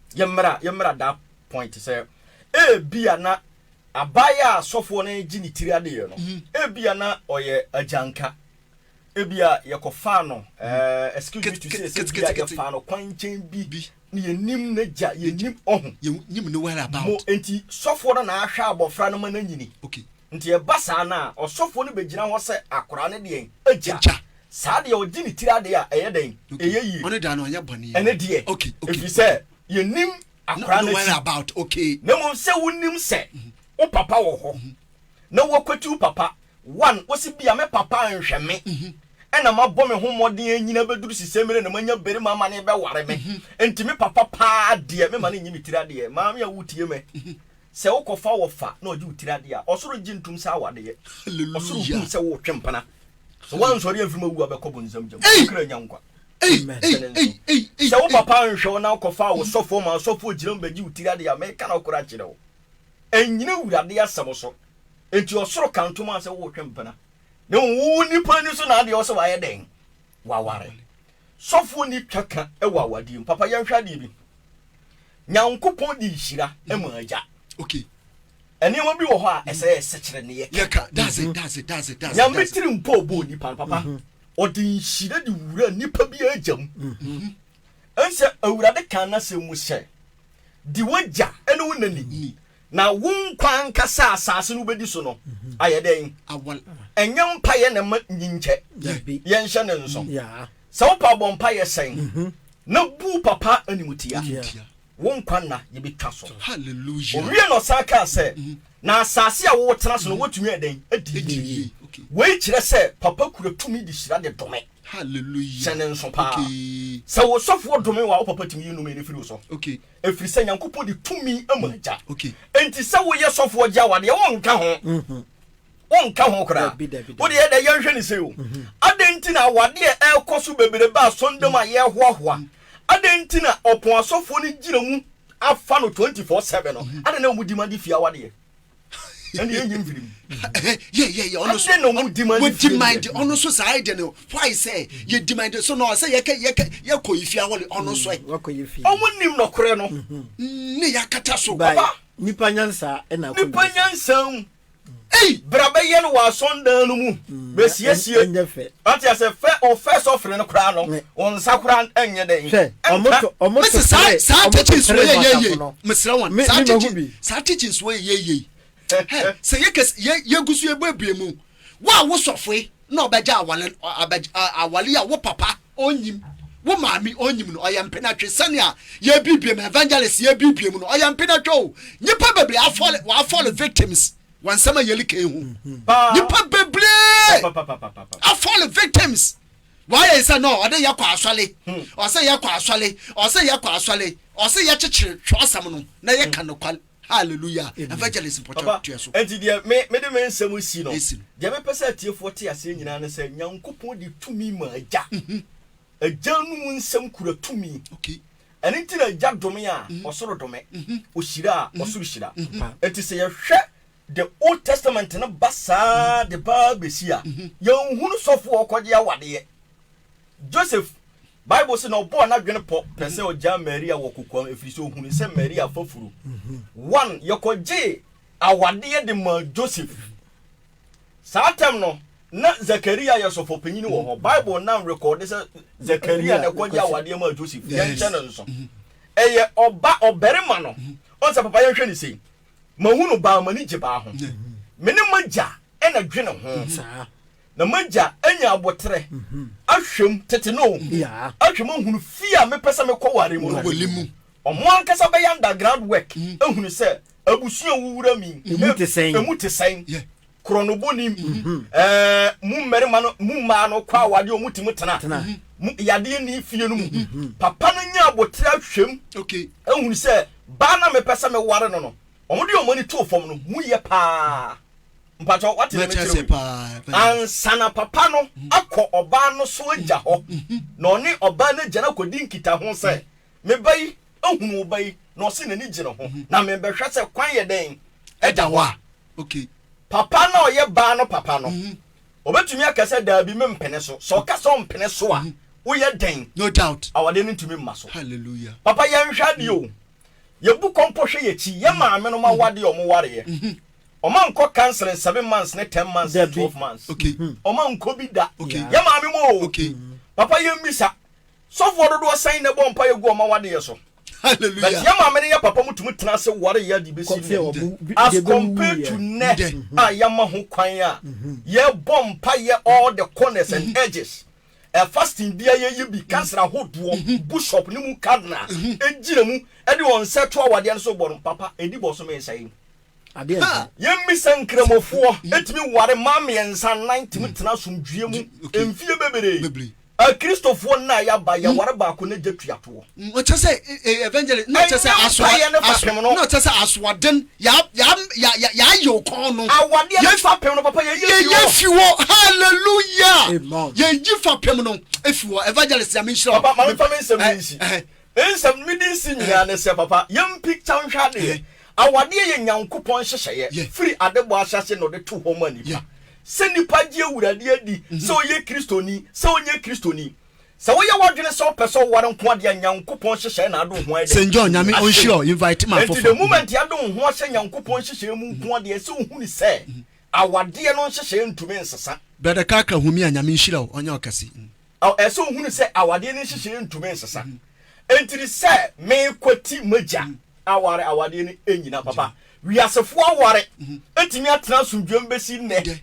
yɛmmra yɛmmra that point sɛ ebia na abaayɛ a sɔfoɔ no gye ne tiri adeɛ no mm. ebia na ɔyɛ agyanka ebia yɛkɔfaa no mm. excuse me to say sɛ bia yɛfaa no kwan nkyɛn bi ne yɛnim no gya yɛnim ɔho mo enti sɔfoɔ no na ahwɛ abɔfra no ma no anyini okay. Nti ɛba saa no a, ɔsɔfoɔ no bɛgyina hɔ sɛ akoraa no deɛn? Agya. Agya. Saa deɛ ɔgye ne tiri adeɛ a, ɛyɛ dɛn? Okay. Ɛyɛ yie. Ɔno deɛ ano ɔnyɛ bɔne. Ɛne deɛ. Okay. Okay. Ɛfiri sɛ, Okay. yɛnnim akoraa No, no no worry akyi. about. Okay. Na mmom sɛ wonim sɛ wo papa wɔ hɔ, na woakwati wo papa, one, wose bia me papa anhwɛ me, ɛna mabɔ me ho mmɔden anyina bɛduru sesei mmerɛ na manya barima ama no rebɛware me, nti me papa paa deɛ, mema no nyi me tiri adeɛ. Maame a wotie me, Sɛ wokɔfa wɔfa na ɔgye wo tiri adeɛ a, ɔsoro gye ntom sɛ awadeɛ. Ɔsoro Hallelujah. hu sɛ woretwe mpena. Sɛ woansɔre amfiri mu awu a, bɛkɔ bonsam gya mu. Wo Ei! kra nya nkwa. Ei! Amen. Ei! Sɛne nso, Ei! Ei! Ei! sɛ wo Ei! papa anhwɛ wo na wokɔfaa wo sɔfoɔ maa ɔsɔfoɔ gyina mu bɛgye wo tiri adeɛ a, meka nokorɛ akyerɛ wo, ɛnnyina Awurade asɛm so. Enti ɔsoro ka ntom a sɛ woretwe mpena. Na mmom wo onipa ani so na adeɛ wɔ sɛ wayɛ dɛn? Waware. Sɔfoɔ nni twa ka wɔ awadeɛ mu. Papa yɛnhwɛ adeɛ bi. Nyankopɔn de nhyira ma agya. Okay. Nneɛma bi wɔ hɔ a mm-hmm. ɛsɛ yɛ sɛkyerɛnne yɛ. Yɛ ka. That's it. That's it. That's it. That's it. Nyame tiri mpo bɔ nipa no papa. Mm-hmm. Ɔde nhyira de wura nipa bi agya mu. Mm-hmm. Ɛnsɛ awurade kan na sɛ mu sɛ di wagya ɛne wo nani. Na wo nkwa ankasa a asase no wobɛdi so no ayɛ dɛn? Ɛnyɛ mpaeɛ na ɛma nyinkyɛ. Yɛnhyɛ no nso. Sɛ wopɛ a bɔ mpaeɛ sɛn na bu papa animtia. Wo nkwa nna yɛbɛtwa so. Ɔwie na ɔsan kaa sɛ, Na asase a wotena so no wobɛtumi ayɛ dɛn? Adi yie. Wei kyerɛ sɛ papa kura tumi de hyira de dome. Hyɛ no nso paa. Sɛ wo sɔfoɔ dome wo a, wo papa tumi yi nnome no firi wo so. Ɛfiri sɛ Nyankopɔn de tumi ama mm. agya. Okay. Enti sɛ woyɛ sɔfoɔ gya wa deɛ wonka ho. Mm-hmm. Wonka ho koraa. Wode yɛ dɛ yɛnhwɛ ne sɛ o. Mm-hmm. Adɛn nti na awadeɛ ɛrekɔ so bebrebe a sɔndam a yɛhoahoa. Mm-hmm. Adɛn nti na ɔpɔn asɔfoɔ no gyina mu afa no 24/7 no. Adɛn na wɔdi ma de fie awadeɛ. ɛne yɛyi mfiri mu yɛyɛyɛ ɔno so wɔdimande ɔno so saa ɛdeɛ no why sɛ yɛdimande so na ɔsɛ yɛkɛ yɛkɛ yɛkɔ yi fia wɔle ɔno so ɛ ɔmo nim nɔkorɛ no ne yɛakata so papa nipa nyansa ɛna nipa nyansa mu ei bra bɛyɛ no wɔ asɔndan no mu bɛsiesie ɛnyɛ fɛ Ɔte ase fɛ o fɛ sɔfiri no koraa no wɔn nsa koraa ɛnyɛ dɛ yi ɛnka. Mese saa saa teachings wɔ yɛ yɛ yɛ mesrɛ wɔn saa teaching saa teachings wɔ yɛ yɛ yɛ yi hɛ sɛ yɛ kɛse yɛ yɛ gu so yɛ bɔ ebie mu wɔ a wo sɔfoe na ɔbɛgya awale abɛ awale yi a wo papa ɔnyim wo maame ɔnyim no ɔyɛ mpenatwe sɛnea yɛ bibie mu evangelist yɛ bibie mu no ɔyɛ mpenatwe o nnipa bebree afɔle wɔafɔle victims. Wɔ nsɛm a yɛli kan hu nipa bebree afɔle victims wɔayɛ sɛ no ɔde yɛkɔ asɔle ɔsɛ yɛkɔ asɔle ɔsɛ yɛkɔ asɔle ɔsɛ yɛkyekyere twerɛsɛm no na yɛka nokwale hallelujah evangelist mpɔkyɛ tua so. ɛnti deɛ me mede me nsɛm si no deɛ mepɛ sɛ atiefoɔ te aseɛ nyinaa ne sɛ nyankopɔn de tumi ma agya agya no mu nsɛm kura tumi Ɛno nti na Agya dome a, ɔsoro dome, ɔhyira a, ɔsoro hyira. Enti sɛ yɛhwɛ the Old Testament no ba saa de ba ara bɛsi a, yɛnhunu sɔfoɔ a ɔkɔgye awadeɛ. Joseph, Bible se na ɔbɔɔ n'adwene pɔ pɛ sɛ ɔgyaa Maria wɔ kokoam ɛfiri sɛ ɔhunuu sɛ Maria afafuro. One, yɛkɔgyee awadeɛ de maa Joseph. Saa ntam no, na Zakaria yɛ sɔfopanyin wɔ hɔ. Bible nam rekɔde sɛ Zakaria na ɛkɔgye awadeɛ maa Joseph. Yɛnhyɛ no nso. Ɛyɛ ɔba ɔbarima no. Ɔn sɛ papa yɛnhwɛ no sei. Mahu no baa m'ani gye baa ho. Me ne m'agya na dwene ho. Na m'agya anya aboterɛ ahwɛ mu tete no o. Ahwɛ mu ahunu fie a mepɛ sɛ mekɔware mu no. Wɔn ankasa bɛyɛ underground work ahunu sɛ Abusua a wowura mu yi, emu te sɛn? Korɔnobɔ nim. Mo mmarima no, mo mmaa no kɔ awadeɛ a wɔtumi tena. Yadeɛ ni fie no mu. Papa no nya abotere ahwɛm ahunu sɛ baa na mepɛ sɛ meware no no, wɔn de wɔn ani too fam no mu yɛ paa. Mpakyɛ wate ne mekyerɛ wei. Ansa na papa no akɔ ɔbaa no so agya hɔ, na ɔne ɔbaa no agya no akɔdi nkitaho sɛ Me ba yi, ahunu wo ba yi, na ɔse n'ani gye ne ho, na merebɛhwɛ sɛ kwan yɛ dɛn da hɔ a. Okay. Papa no a ɔyɛ baa no papa no, ɔbɛtumi aka sɛ, Daabi, mempene so. Sɛ ɔka sɛ ɔmpene so a, woyɛ dɛn? No doubt. Awadeɛ no ntumi mma so. Hallelujah. Papa, yɛnhwɛ adeɛ o. Yɛbu kɔ mpo hwɛ yɛn akyi, yɛn maamenom awadeɛ a wɔwareɛ. Wɔankɔ counseling seven months ne ten months ne twelve months. Okay. Wɔankɔ bi da. Okay. Yɛn maame mu o. Okay. Papa, yɛmmisa, Sɔfoɔ dodoɔ sɛn na ɛbɔ mpaeɛ gu wɔn awadeɛ so? But yɛn maame ne yɛn papa mutumi tena ase ware yɛ de bɛsi nnɛ. As compared to nnɛ a yɛama ho kwan a yɛbɔ mpaeɛ all the corners and edges, fasting biara yɛyɛ bi, council ahodoɔ, bushop ne mu cardinal gyina mu de wɔn nsa to awadeɛ no so bɔ no, papa ɛdi bosome nsa yi mu. Ha, yɛmmisa Nkramofoɔ tumi ware mmaa mmiɛnsa nnan tumi tena asomdwoeɛ mu mfeɛ bebree. Akristofoɔ nna a yɛaba, yɛware baako na gya tua toɔ. Ɛnyɛ mpaeɛ ne fapem no. Awadeɛ ne fapem no, papa, yɛyɛ fi hɔ. Papa, ma memfa me nsɛm no nsi. Nsɛm no me de nsi nyinaa ne sɛ papa yɛmpi kya nhwɛ adeɛ. Awadeɛ yɛ Nyankopɔn nhyehyɛeɛ firi adebɔ ahyɛaseɛ na ɔde too hɔ maa nipa. Sɛ nipa gye Awurade adi sɛ ɔyɛ Kristoni, sɛ ɔnyɛ Kristoni, sɛ woyɛ w'adwene sɛ wopɛ sɛ woware nko a deɛ Nyankopɔn nhyehyɛeɛ na adom ho ayɛ dɛn? Ahyɛ mu. Enti the moment adom ho ahyɛ Nyankopɔn nhyehyɛeɛ mu nko a deɛ ɛsɛ wohu ne sɛ awadeɛ no nhyehyɛeɛ ntumi nsesa. Brother Kaka Humi a Nyame nhyira wo ɔnyɛ wo kɛse. Ɛsɛ sɛ ohunu sɛ awadeɛ no nhyehyɛeɛ ntumi nsesa. Enti no sɛ mekwati m'agya aware awadeɛ no nnyina papa. Wiasefoɔ aware atumi atena asomdwoeɛ mu bɛsi nnɛ.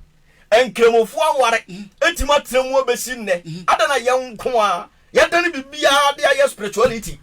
Nkramofoɔ aware atumi atena mu abɛsi nnɛ. Adɛn na yɛn nko ara yɛadane biribiara de ayɛ spirituality?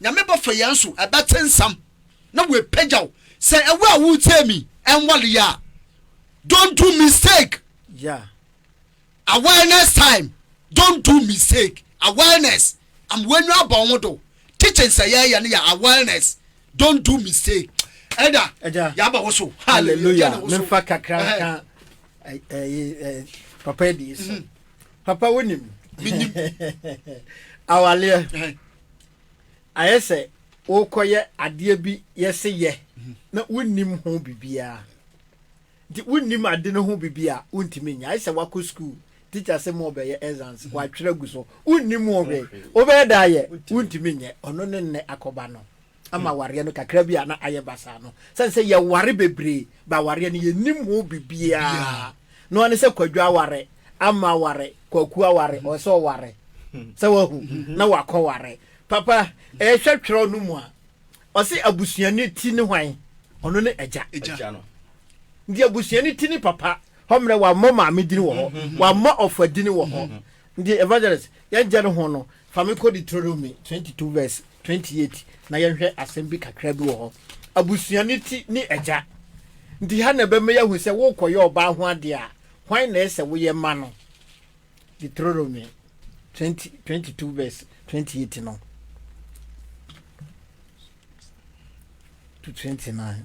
Nyame bɛfa yɛn so, ɛbɛte nsɛm na w'apagya wo. Sɛ ɛwɔ a wotie mi ɛnwale yɛ a, don't do mistake. Yeah. Awareness time, don't do mistake. Awareness, am w'enyo abɔ ho do. Teachings a yɛyɛ no yɛ awareness, don't do mistake. Ɛda, yɛaba wo so. Hallelujah. Memfa kakra ka papa bi so. papa wonim awaleɛ ayɛ sɛ wokɔyɛ adeɛ bi yɛse yɛ mhm. na wonnim ho biribiaa nti wonnim ade no ho biribi a wontumi nya ayɛ sɛ wakɔ skuul teacher sɛ mu ɔbɛyɛ exams mhm. watwerɛ gu so wonnim ho hwɛ wobɛyɛ da ayɛ wontumi nyɛ ɔno ne nnɛ akɔba no ama awareɛ no kakra bi a na ayɛ basaa no sɛne sɛ yɛware bebree ba awareɛ no yɛnim ho bibiaa na ɔne sɛ kwadwo aware ama aware kwaku aware ɔwɔ sɛ ɔware sɛ wahu na wakɔ ware papa ɛhwɛ twerɛ no mu a ɔse abusuani ti ne hwan ɔno ne agya nti abusuani ti ne papa hɔ mmerɛ wammɔ maame dini wɔ hɔ wammɔ ɔfa dini wɔ hɔ nti evangelist yɛnkyɛ no ho no Fa me kɔ Deuteronomy twenty two verse twenty eight na yɛnhwɛ asɛm bi kakra bi wɔ hɔ. Abusua ne ti ne agya. Nti ha na ɛbɛma yɛahu sɛ worekɔyɛ ɔbaa ho adeɛ a, hwan na ɛyɛ sɛ woyɛ ma no? Deuteronomy twenty twenty two verse twenty eight no to twenty nine.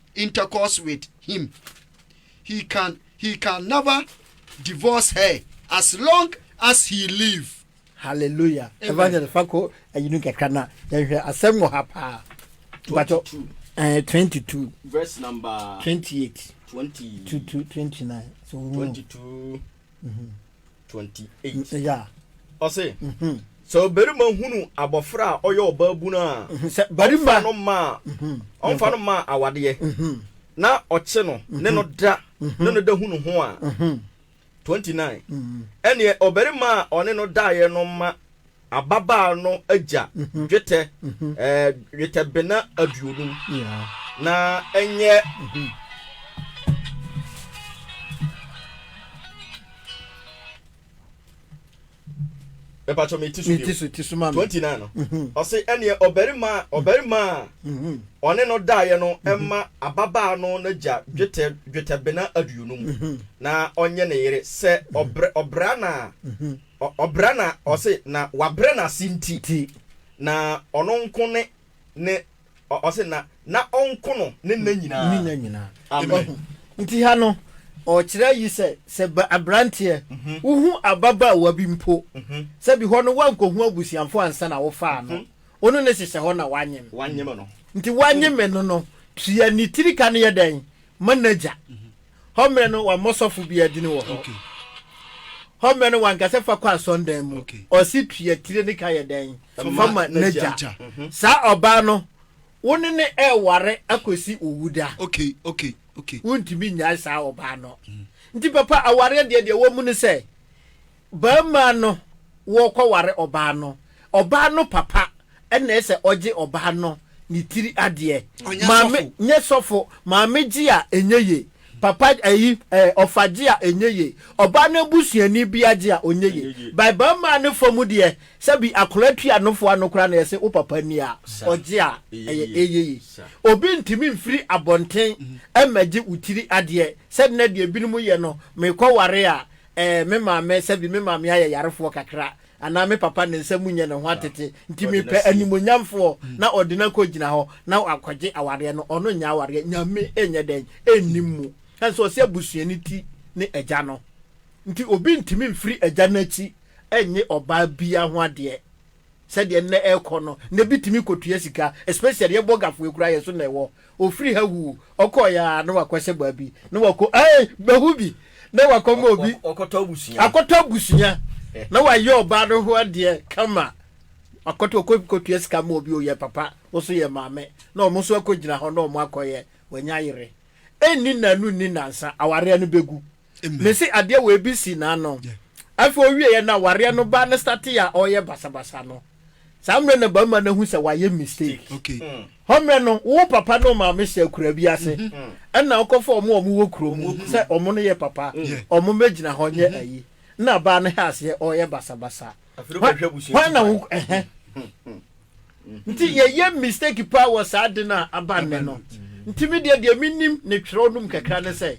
intercourse with him he can he can never divorce her as long as he live. Hallelujah. Amen. Evangelist Fako ayinu kakra na yɛhwɛ asɛm wɔ ha paa. Bato eh, 22 verse number 28 20 to 29 so 22 mm -hmm. 28 ya ɔse mhm. sɛ ɔbarima hunu abɔfra a ɔyɛ ɔbaabunu a mhm. sɛ barima no maa mhm. ɔmfa no maa awadeɛ na ɔkye no ne no da ne no da hunu ho a 29 ɛneɛ ɔbarima a ɔne no daeɛ no ma Ababaa no agya dwetɛ dwetɛbena aduonum, na ɛnyɛ Mepakyɛ me ti so bio. Twenty nine no. Ɔse ɛneɛ ɔbarima ɔbarima a ɔne no daeɛ no mma ababaa no n'agya dwetɛ dwetɛbena aduonum na ɔnyɛ ne yere sɛ ɔbrɛ ɔbrɛ anaa Ɔbra na ɔse na wabrɛ n'ase nti na ɔno nko ne ne ɔse na na ɔnko no ne nna nyinaa. Amen. Nti ha no ɔrekyerɛ yi sɛ sɛ abranteɛ wohu ababaawa bi mpo sɛ bi hɔ no woankohu abusuafoɔ ansa na wofaa no wo ne no hyehyɛ hɔ na wanyem nti wanyeme no no tua ne tiri ka no yɛ dɛn ma n'agya Hɔ mmerɛ no wammɔ sɔfo biara dini wɔ hɔ. Hɔ mmerɛ no wankasa fa kɔ asɔndan mu. Ɔse tua tire ne ka yɛ dɛn fa ma n'agya. Saa ɔbaa no wo ne ne ɛɛware akɔsi wo wu da. Wontumi nnyae saa ɔbaa no. Nti papa awareɛ deɛ deɛ wɔmu ne sɛ. Barima no wɔɔkɔware ɔbaa no, ɔbaa no papa na ɛsɛ ɔgye ɔbaa no ne tiri adeɛ. Ɔnyɛ Maame, sɔfo. nyɛ sɔfo. Maame gye a, ɛnyɛ ye. Papa ayi, ɛɛ, ɔfa gye a, ɛnyɛ ye. Ɔbaa no abusuani biara gye a, ɔnyɛ ye. Ɛnyɛ ye. By barima no fa mu deɛ, sɛbi akwadaa tu anofo ano koraa na yɛse wo papa ni a, Sa. ɔgye a, Ɛyɛ ɛyɛ, ye. ɛyɛ ye. Sa. Obi ntumi mfiri abɔnten mmɛgye wo tiri adeɛ, sɛdeɛ na deɛ binom yɛ no, meekɔware a, Ɛɛ, me maame, sɛbi me maame ayɛ yarefoɔ kakra, anaa me papa ne nsa mu nyɛ ne ho atete, nti mepɛ animuonyamfoɔ, na ɔde no akɔgyina hɔ, na wakɔgye awareɛ no, ɔno nyɛ awareɛ, Nyame nyɛ dɛn? nnim mu. Ɛne sɛ ɔse abusuani ti ne agya no, nti obi ntumi mfiri agya no akyi nnye ɔbaa biaa ho adeɛ. Sɛdeɛ nnɛ ɛrekɔ no, na ebi tumi kɔtua sika, especially yɛn bɔgafoɔ yi koraa yɛn so na ɛwɔ. Ɔfiri ha wuu, ɔkɔeɛ ara na wakɔhyɛ baabi, na wakɔ ei, mahu bi, na wakɔma obi akɔtɔ abusua, na wayɛ ɔbaa no ho adeɛ kama, wakɔtɔ, ɔkɔ kɔtua sika ma obi, ɔyɛ papa, wo nso yɛ maame, na wɔn nso akɔgyina hɔ na wɔn akɔyɛ, wanya yere. Ɛnni nnanu nni nnansa, awareɛ no bɛgu. Mese adeɛ wei bi si n'ano. Afei ɔwieɛ no a wareɛ no baa no startee a ɔreyɛ basabasa no. Saa mmerɛ na barima no ahu sɛ wayɛ mistake. Hɔ mmerɛ no wo papa ne wo maame hyɛ akuraa bi ase ɛna wokɔfa wɔn a wɔwɔ kuro mu sɛ wɔn no yɛ papa wɔn mmɛgyina hɔ nyɛ ayi. Ɛna baa no hɛ aseɛ ɔreyɛ basabasa. hwan na wo ɛhɛ nti yɛyɛ mistake paa wɔ saa de no a aba nnɛ no nti me deɛ deɛ menim ne twerɛ nom kakra ne sɛ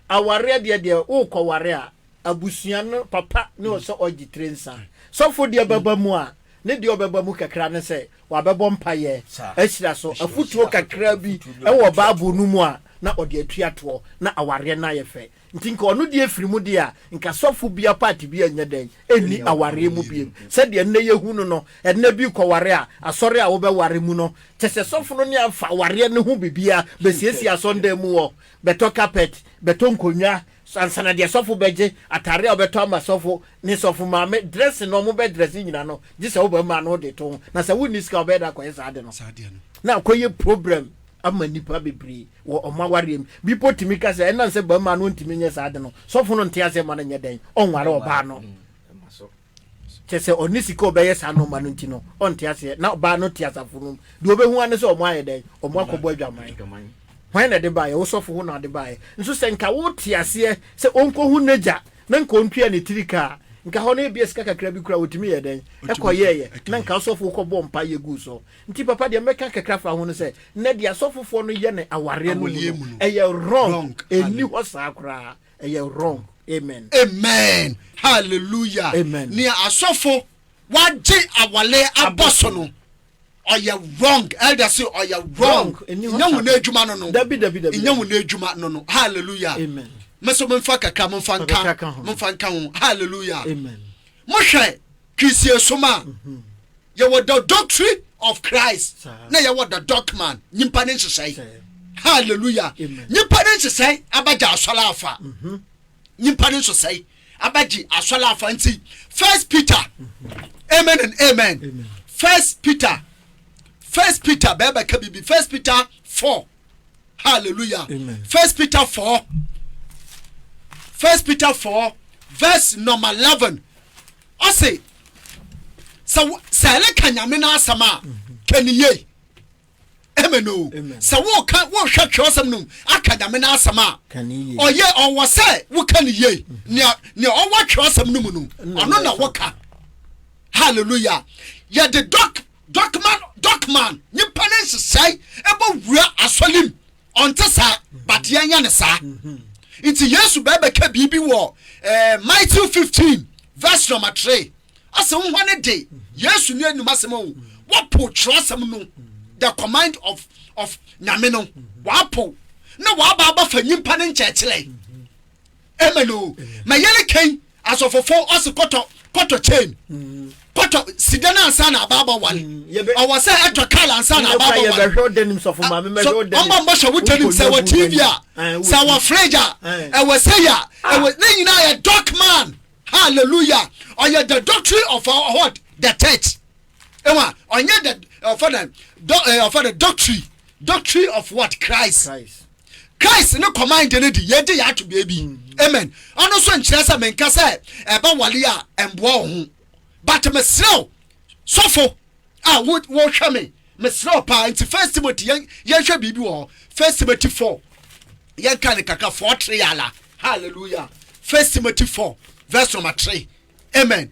awareɛ deɛ deɛ wokɔ ware a abusua no papa ne ɔsɛ ɔgye tire nsa sɔfo deɛ bɛba mu a ne deɛ ɔbɛba mu kakra ne sɛ wabɛbɔ mpayɛ ahyira so afotuo kakra bi ɛwɔ baabo no mu a na ɔde atua toɔ na awareɛ no ayɛ fɛ Nti nka ɔno deɛ firi mu deɛ a, nka sɔfo bia part bia nyɛ dɛn nni awareɛ mu biom. Sɛdeɛ nnɛ yɛhu no no, ɛnnɛ bi kɔware a, asɔre a wobɛware mu no, kyɛsɛ sɔfo no ne afa awareɛ no ho biribiara, bɛsiesie asɔndan mu hɔ, bɛtɔ carpet, bɛtɔ nkonnwa, ansa na deɛ sɔfo bɛgye, atare a wobɛtɔ ama sɔfo ne sɔfo maame, dressing a wɔbɛ dresse nyina no, gyesɛ wobɛma no wode to ho. Na sɛ wonni sika a, wobɛyɛ dɛn akɔyɛ saa ade no? Na akɔyɛ problem. ama nnipa bebree wɔ wɔn awareɛ mu. Bi mpo tumi ka sɛ ɛnam sɛ barima no ntumi nyɛ saa ade no, sɔfo no nte aseɛ mma no nyɛ dɛn? Ɔnware ɔbaa no. Kyɛ sɛ ɔne sika ɔbɛyɛ saa nɔɔma no nti no, ɔnte aseɛ. Na ɔbaa no te asafo no mu. Deɛ ɔbɛhu ara ne sɛ wɔn ayɛ dɛn? Wɔn akɔbɔ adwaman. Hwan na ɛde baeɛ? Wo sɔfo ho na ɔde baeɛ. Nso sɛ nka wote aseɛ sɛ ɔnkɔhu n'agya na nka ɔntua ne tiri ka a, nka hɔ no ebia sika kakra bi koraa ɔtumi yɛɛ dɛn? Ɛkɔyɛeɛ. Na nka wo sɔfo kɔbɔɔ mpaeɛ guu so. Nti papa deɛ mɛka kakra fa ho no sɛ na deɛ asɔfofoɔ no yɛ no awareɛ no mu no ɛyɛ wrong ɛni hɔ saa koraa ɛyɛ wrong amen amen hallelujah amen nea asɔfo wagye awale abɔ so no ɔyɛ wrong elder say ɔyɛ wrong nyɛ wɔn adwuma no no nyɛ wɔn adwuma no no hallelujah amen mɛsɛ mo nfa kakra mo nfa nka mo nfa nka ho hallelujah mo hwɛ kirisie soma. Mm -hmm. Yɛwɔ the doctrine of Christ na yɛwɔ the dogman nyimpa ne nhyehyɛe. Hallelujah. Nyimpa ne nhyehyɛe abɛgye asɔre afa. Mhm. Nyimpa ne nhyehyɛe abɛgye asɔre afa nti First Peter. Mhm. Amen and amen. First Peter. First Peter bɛɛbɛ ka bibi First Peter four. Hallelujah. First Peter four. First Peter four verse number eleven. Ɔse, sɛ wo, sɛ ɛreka Nyame no asɛm a, ka no yie. Amen o. Sɛ woka, wohwɛ twerɛsɛm no mu, aka Nyame no asɛm a, ɔyɛ, ɔwɔ sɛ woka no yie. Nea, nea ɔwɔ twerɛsɛm no mu no, ɔno na woka. Hallelujah. Yɛde dɔk, dɔkman, dɔkman, nyimpa ne nhyehyɛe ɛbɔ wura asɔre mu. Ɔnte saa, but yɛnyɛ no saa. Nti Yesu bɛ bɛka biribi wɔ eh, Matthew 15 verse number 3. Ɔsɛ wohɔ ne de, Yesu ne anum asɛm o, wɔpo twerɛsɛm no, the command of, of Nyame no, wɔapo, na wɔaba abafa nyimpa ne nkyɛkyerɛ. amen o ma yɛrɛ kɛn asɔfofo ɔsi kɔtɔ kɔtɔ chain mm. kɔtɔ sida na ansa na abaaba wale mm. ɔwɔ sɛ ɛtɔ kaal ansa na abaaba wale ah, ɔmɔ mbɔ hyɛ wotɛ nim sɛ wɔ tv a sɛ wɔ fridge a ɛwɔ sɛ yɛ a ah. ɛwɔ ne nyinaa yɛ doc man hallelujah ɔyɛ the doctrine of our what the church. Ewa, ɔnyɛ the ɔfa dɛ dɔ ɛɛ ɔfa dɛ doctrine doctrine of what Christ. Christ. Christ ne kɔman de ne di yɛ de yɛ ato beebi. Mm-hmm. Amen. Ɔno nso nkyerɛ sɛ menka sɛ ɛba wale a ɛmboa wɔ ho. But mesrɛw sɔfo a wɔhwɛ me mesrɛw paa nti First Timothy yɛn yɛnhwɛ biribi wɔ hɔ. First Timothy four yɛnka ne kakra four three yala. Hallelujah. First Timothy four verse number three. Amen.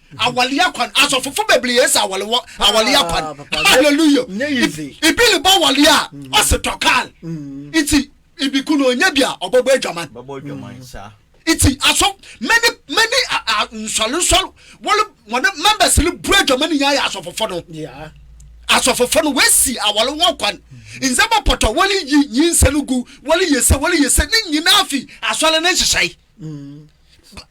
awale akwan asɔfofo bebree yɛ sɛ awale wɔ awale akwan hallelujah ibi ne ba awale a ɔsɛ tɔ kaal nti ibi kunu onye bi a ɔbɛbɔ adwaman nti aso many many nsɔre nsɔre wɔle wɔne members no bu adwaman ne nyinaa yɛ asɔfofo no asɔfofo no wɔasi awale ho akwan nsɛm apɔtɔ wɔle yi nyinsɛ no gu wɔle yɛ sɛ wɔle yɛ sɛ ne nyinaa fi asɔre ne nhyehyɛe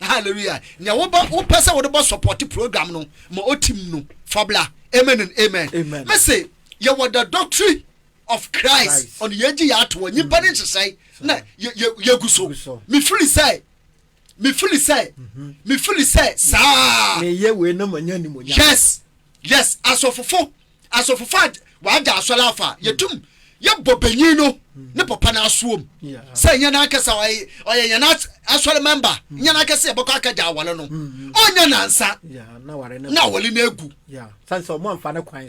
Hallelujah nea wobɔ wopɛ sɛ wode bɔ support program no ma otim no fa bla amen and amen me se yɛwɔ the doctrine of Christ ɔno yɛgye yɛ ato hɔ nyimpa ne nhyehyɛe na yɛgu so me fili sɛ me fili sɛ me fili sɛ saa meyɛ wei na manya nimonyam yes yes asɔfofo asɔfofo a wɔagya asɔre afa a, yɛtum yɛbɔ banyin no ne papa no asoɔm sɛ nyɛ n'ankasa ɔyɛ yɛn asɔre mɛmba nyɛ n'ankasa yɛbɛkɔ akagya awɔre no ɔnyɛ nansa na awɔre no agu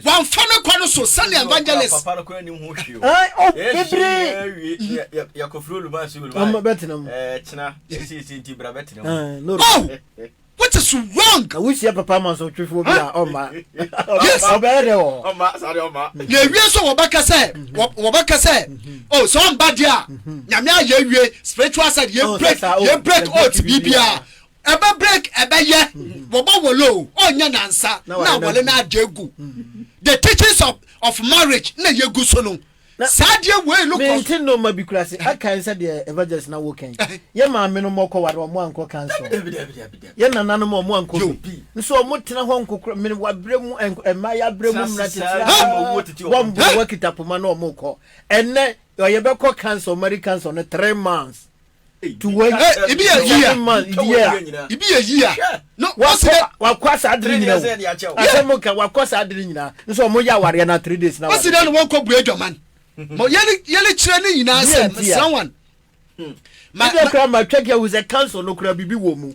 wɔamfa no kɔ no so sɛnea evangelist What is wrong? Na wuhyia papa masɔtwefo bi a ɔma. Yes. Ɔbɛyɛ dɛ wɔ. Ɔma sare ɔma. Na ewie so wɔbɛka sɛ wɔbɛka sɛ oh sɛ ɔmba deɛ a nyame ayɛ awie spiritual side yɛ break yɛ break oath biribiara ɛbɛ break ɛbɛyɛ wɔbɔ wɔle o ɔnyɛ nansa na wɔle na agye gu the teachings of of marriage na yɛ gu so no. Saa adeɛ wei no kɔ. Mente nnoɔma bi koraa se akae sɛ deɛ Evangelist na wo kɛn. Yɛ maame nom ɔkɔ ware ɔmo ankɔ council. Yɛ nana nom ɔmo ankɔ bi. Nso ɔmo tena hɔ nko koraa. Mene wabrɛ mu ɛmma ya brɛ mu mmra titira. Bɔ mbo wakita poma na ɔmo kɔ. Ɛnɛ ɔyɛ bɛkɔ council marriage council no three months. wakɔ saa adere nyina asɛm nka wakɔ saa adere nyina nso ɔmo yɛ awareɛ na three days na wɔsi dɛ na wɔn kɔ bue adwaman ma yɛle yɛle kyerɛ ne nyinaa sɛ mesra wɔn ma ma kura ma twɛ kɛ wusɛ council no kura bibi wɔ mu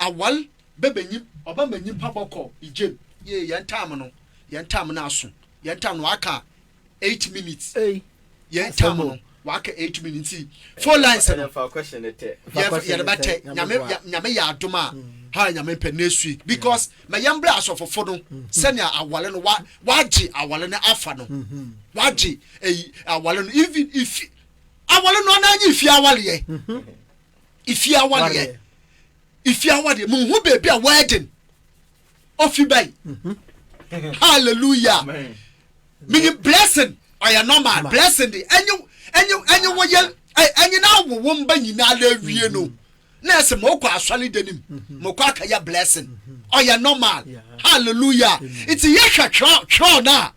Awar bɛbɛ nyim ɔba ma nyimpa bɔkɔ igyen. Yie yɛn time no yɛn time no aso yɛn time no waka eight minutes yɛn time no waka eight minutes nti phone lines no yɛde bɛtɛ nyame nyame yɛ adom a ha nyame mpɛ next week because ma yɛn brɛ asɔfofo no sɛnea awale no wa wagye awale no afa no wagye ɛyi awale no even ifi awale no anaa nye ifi awaleɛ. Ifi awareɛ ifi awareɛ mu hu beebi a wedding ofi bɛyi mhm. hallelujah meyi blessing ɔyɛ normal blessing de ɛnye ɛnye ɛnye wo yɛ ɛnye n'awowo mba nyinaa la awie no mhm. na ɛsɛ mo kɔ asɔre de nim mhm. mo kɔ akɛyɛ blessing ɔyɛ normal hallelujah nti yɛhwɛ twerɛ twerɛ no a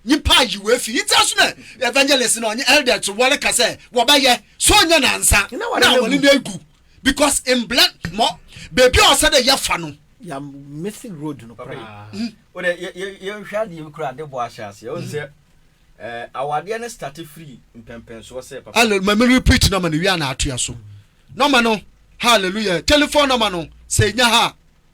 Nyimpa ayi wo efi itse aso na evangelist na ɔnye elder to wɔreka sɛ wɔbɛyɛ so ɔnyɛ nansa na wɔne no egu because mblɛ mɔ beebi a ɔsɛ dɛ yɛfa no. Yɛ missing road no koraa. Wodɛ yɛnhwɛ adeɛ bi koraa ade bɔ ahyɛ aseɛ ɔn sɛ awadeɛ no starte firi mpɛmpɛnsoɔ sɛ papa. Hallelujah ma me repeat nɔma no wie a na atoa so nɔma no hallelujah telephone nɔma no sɛ nya ha.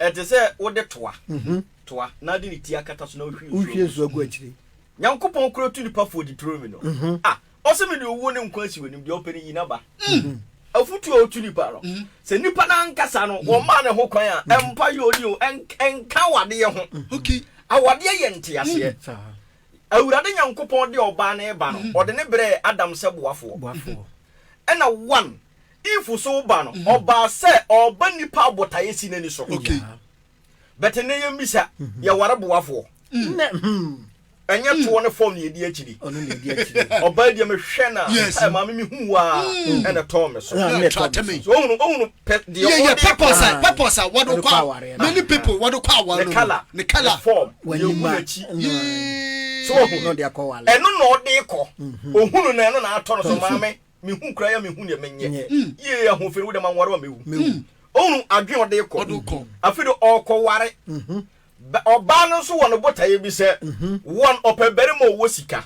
Ɛte sɛ wode toa, toa, na de ne ti akata so na wohwie nsuo gu so. Wohwie nsuo gu akyire. Nyankopɔn koro tu nipa fo di turo mu no. A, ɔse mede owuo ne nkwa asi w'anim, deɛ ɔpɛ no yi n'aba. Mm. Afutuo a ɔtu nipa no, sɛ nipa no ankasa no, wɔmmaa ne ho kwan a, ɛmpa yɛ ɔni o, ɛnka awadeɛ ho. Ok. Awadeɛ yɛ nteaseɛ. Saa. Awurade Nyankopɔn de ɔbaa ne ba no, ɔde ne brɛɛ Adam sɛ boafoɔ. Boafoɔ. Ɛna one, Eve so ba no ɔbaa sɛ ɔɔba nnipa a botaeɛ si n'ani so. But nnɛ yɛn bisa yɛware boafoɔ. Ɛnyɛ toɔ ne fɔm na yɛdi akyiri. Ɔbaa deɛ mehwɛ no a sɛ maame mehu wo ara ɛna ɛtɔɔ me so. Ohunu ohunu pɛ deɛ ɔde kɔ. Purpose a purpose a wɔde kɔ aware. Many people wɔde kɔ aware. Ne colour ne colour fɔm yɛhu n'akyi. So ohunu ɛno na ɔde kɔ. Ohunu na ɛno na atɔ no so maame. Me hu kura ya me hu deɛ me nyɛ. Yie yɛ ho fɛn wo dɛ ma nware wa me wu. Ɔhunu adwene ɔde kɔ. Afi de ɔkɔ ware. Bɛ ɔbaa no nso wɔ no botaeɛ bi sɛ wɔn ɔpɛ barima ɔwɔ sika.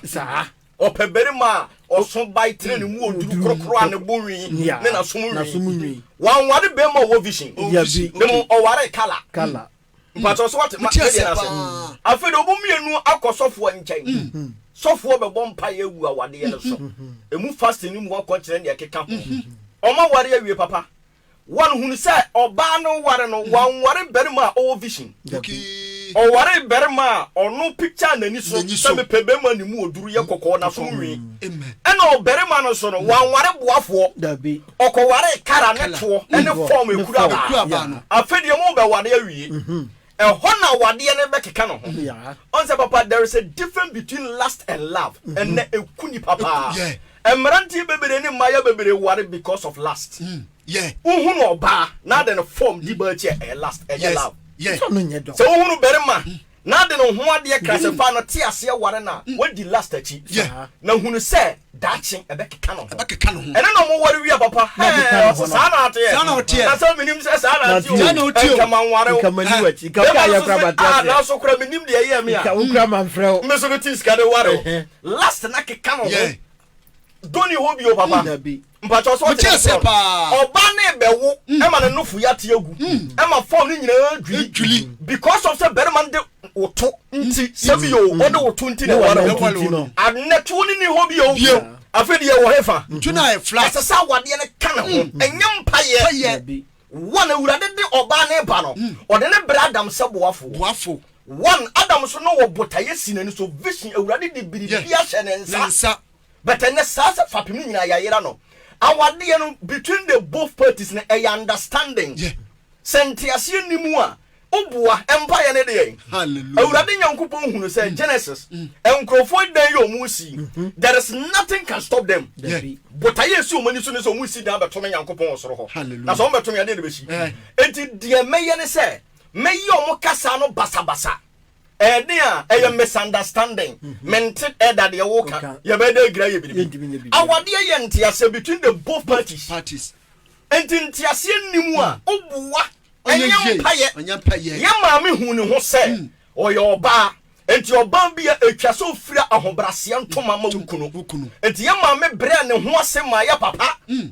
Ɔpɛ barima a ɔso bae tene ne mu ɔduru korokoro a ne bo nwi ne na som nwi. Wanware barima ɔwɔ vision. Mmom ɔwaree kala. Mpatsɔ so wate ma yɛ deɛ no ase. Afei de wɔn mmienu akɔ sɔfoɔ nkyɛn. Sɔfoɔ bɛbɔ mpaeɛ agu awadeɛ no so. Emu fasting no mu hɔ kɔkyerɛ nea ɛkeka ho. Wɔn aware awie papa. Wɔn hunu sɛ ɔbaa no ware no wanware barima a ɔwɔ vision. Ɔwaree barima a ɔno picture n'ani so sɛ mepɛ barima a ne mu ɔduru, yɛ kɔkɔɔ, n'aso nwii. Ɛna ɔbarima no nso no wanware boafoɔ. Ɔkɔwaree Kala ne toɔ ne fɔɔm ekuru abaa no. Afei deɛ ɔmo bɛ ware awie. Ɛhɔ na awadeɛ no bɛ keka ne ho. Ɔn sɛ papa there is a different between lust and love ɛnɛ eku nipa paa. Ɛmmeranteɛ beberee ne mmaayewa beberee ware because of lust. Wo hunu ɔbaa na adɛn fɔɔm di baa akyi a ɛyɛ lust ɛnyɛ love. Sɛ wo hunu bɛrima Na de no ho adeɛ kra sɛ fa no te aseɛ ware no a wadi lust akyi na hunu sɛ daakye ɛbɛkeka no ho ɛno na ɔmo ware wie papa hɛɛ ɔse saa na ateɛ na sɛ menim sɛ saa na ateɛ o nka manware wo bɛma no so se ah nanso kora menim deɛ ɛyɛɛ me a me so me te sika de ware wo lust no akeka no ho dɔ ni hɔ bio papa. Mpakyɛw sɛ ɔte aseɛ paa. Ɔbaa no rebɛwo ɛma ne nofo yɛ ate agu ɛma fɔm no nyinaa dwiri because of sɛ barima no de wo to nti sɛ bi o ɔde wo to nti na ɛware wo no ɛnɛ toɔ no nni hɔ bio afei deɛ ɛwɔ hefa ɛsɛ sɛ awadeɛ no ka ne ho ɛnyɛ mpaeɛ wɔn awurade de ɔbaa no ba no ɔde ne brɛ adam sɛ boafo wɔn adam so no wɔ botaeɛ si n'ani so vision awurade de biribi ahyɛ ne nsa But ɛnɛ saa sɛ fapem no nyinaa yayera no awadeɛ no between the both parties no ɛyɛ understanding sɛ nteaseɛ nni mu a woboa mpaeɛ no deɛ awurade nyankopɔn hunu sɛ Genesis nkurɔfoɔ ɛdan yɛ ɔmo si there is nothing can stop them botaeɛ ɛsi ɔmo ani so ne sɛ ɔmo si dan bɛto me nyankopɔn wɔ soro hɔ na sɛ ɔmo bɛto me adeɛ na bɛsi enti deɛ mɛyɛ ne sɛ mɛyɛ ɔmo kasa no basabasa Ɛɛden a ɛyɛ misunderstanding. Mhm. Mente ɛda deɛ woka. Yɛbɛda agira yɛ biribi. Awadeɛ yɛ nteaseɛ between the both parties. parties. Nti nteaseɛ nni mu a mm. woboa ɛnyɛ mpayɛ. Yɛ maame hu ne ho sɛ mm. ɔyɛ ɔbaa. Nti ɔbaa bi a ɛtwa sɛ ɔfira ahobraseɛ ntoma ma wo kunu. Nti yɛ maame brɛ ne ho ase ma yɛ papa. Mm.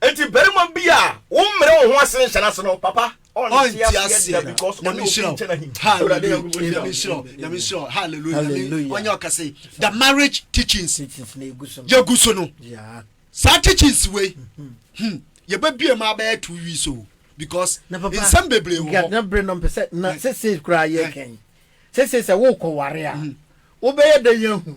Enti barima bi a wo mmerɛ wo ho ase nhyɛ no ase no papa ɔnte aseɛ da because ɔne obi nkyɛ na him the marriage teachings yɛgu so no saa teachings wei hmm. hmm. yɛbɛbie ma abɛyɛ two weeks o because nsɛm bebree wɔ hɔ na bere no mpɛ sɛ na sese koraa yɛ kɛn sese sɛ wokɔ ware a hmm. wobɛyɛ dɛ yɛ hunu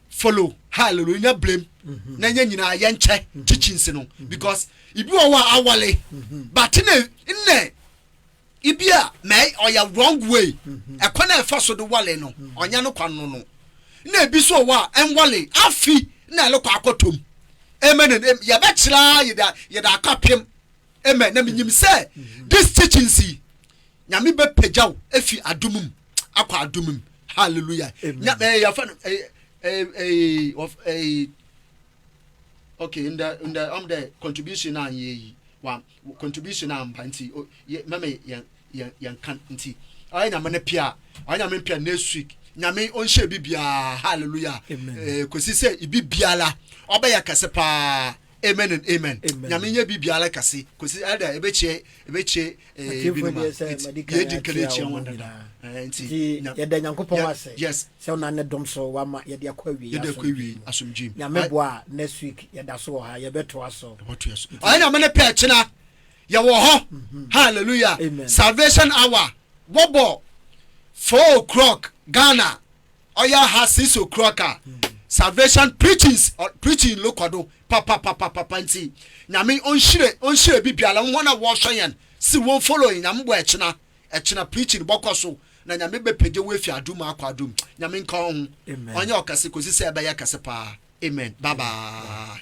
follow hallelujah nya blame mhm. na nya nyinaa yɛ nkyɛ mhm. teachings no mhm. because ibi wɔ hɔ a awale but ne nnɛ ibi a mɛ ɔyɛ wrong way ɛkɔ na ɛfa so de wale no ɔnya no kwan no no na ebi so wɔ a ɛnwale afi na ɛlekɔ akɔtɔm amen yɛbɛkyerɛ yɛda yɛda akapem amen na menyim sɛ this teachings yi nyame bɛpagyaw efi adumum. akɔ adum mu hallelujah nya ɛɛ eh, yafa no ɛɛ eh, ɛɛ eh, ɛɛ ɛɛ okay ndɛ ndɛ ɔm dɛ contribution naa yɛ yi wa contribution naa mba nti o yɛ mɛmɛ yɛn yɛn yɛn kan nti ɔyɛ nyame ne pia ɔyɛ nyame ne pia next week nyame ɔnhyɛ bi biara hallelujah ɛɛ kosi sɛ ibi biara ɔbɛyɛ kɛse paa. Amen and amen nyame nyɛ bi biara kɛse kɔsi ɛda ɛbɛkyɛ ɛbɛkyɛ binom a yɛdi nka no akyia wɔn dada nti yɛda nyankopɔn ase yes sɛ wona ne dom so wama yɛde akɔ awie yɛde akɔ awie asomdwem nyame boa a next week yɛda so wɔ ha yɛbɛtoa so yɛbɛtoa so ɔyɛ nyame ne pɛ kyena yɛwɔ hɔ mhm. hallelujah salvation hour wɔbɔ 4 o'clock Ghana Ɔya ha sisi okura ka salvation preachings preaching lo kɔ do papapapapa nti nyame ɔnhyire ɔnhyire bi biara wɔn a wɔhwɛ yɛn si wɔn follow yɛn nyame bɔ ɛkyena ɛkyena preaching bɔkɔ so na nyame bɛ pagye wo efi adum akɔ adum nyame nka ɔho ɔnyɛ ɔkɛse kɔsi sɛ ɛbɛyɛ kɛse paa amen bye bye.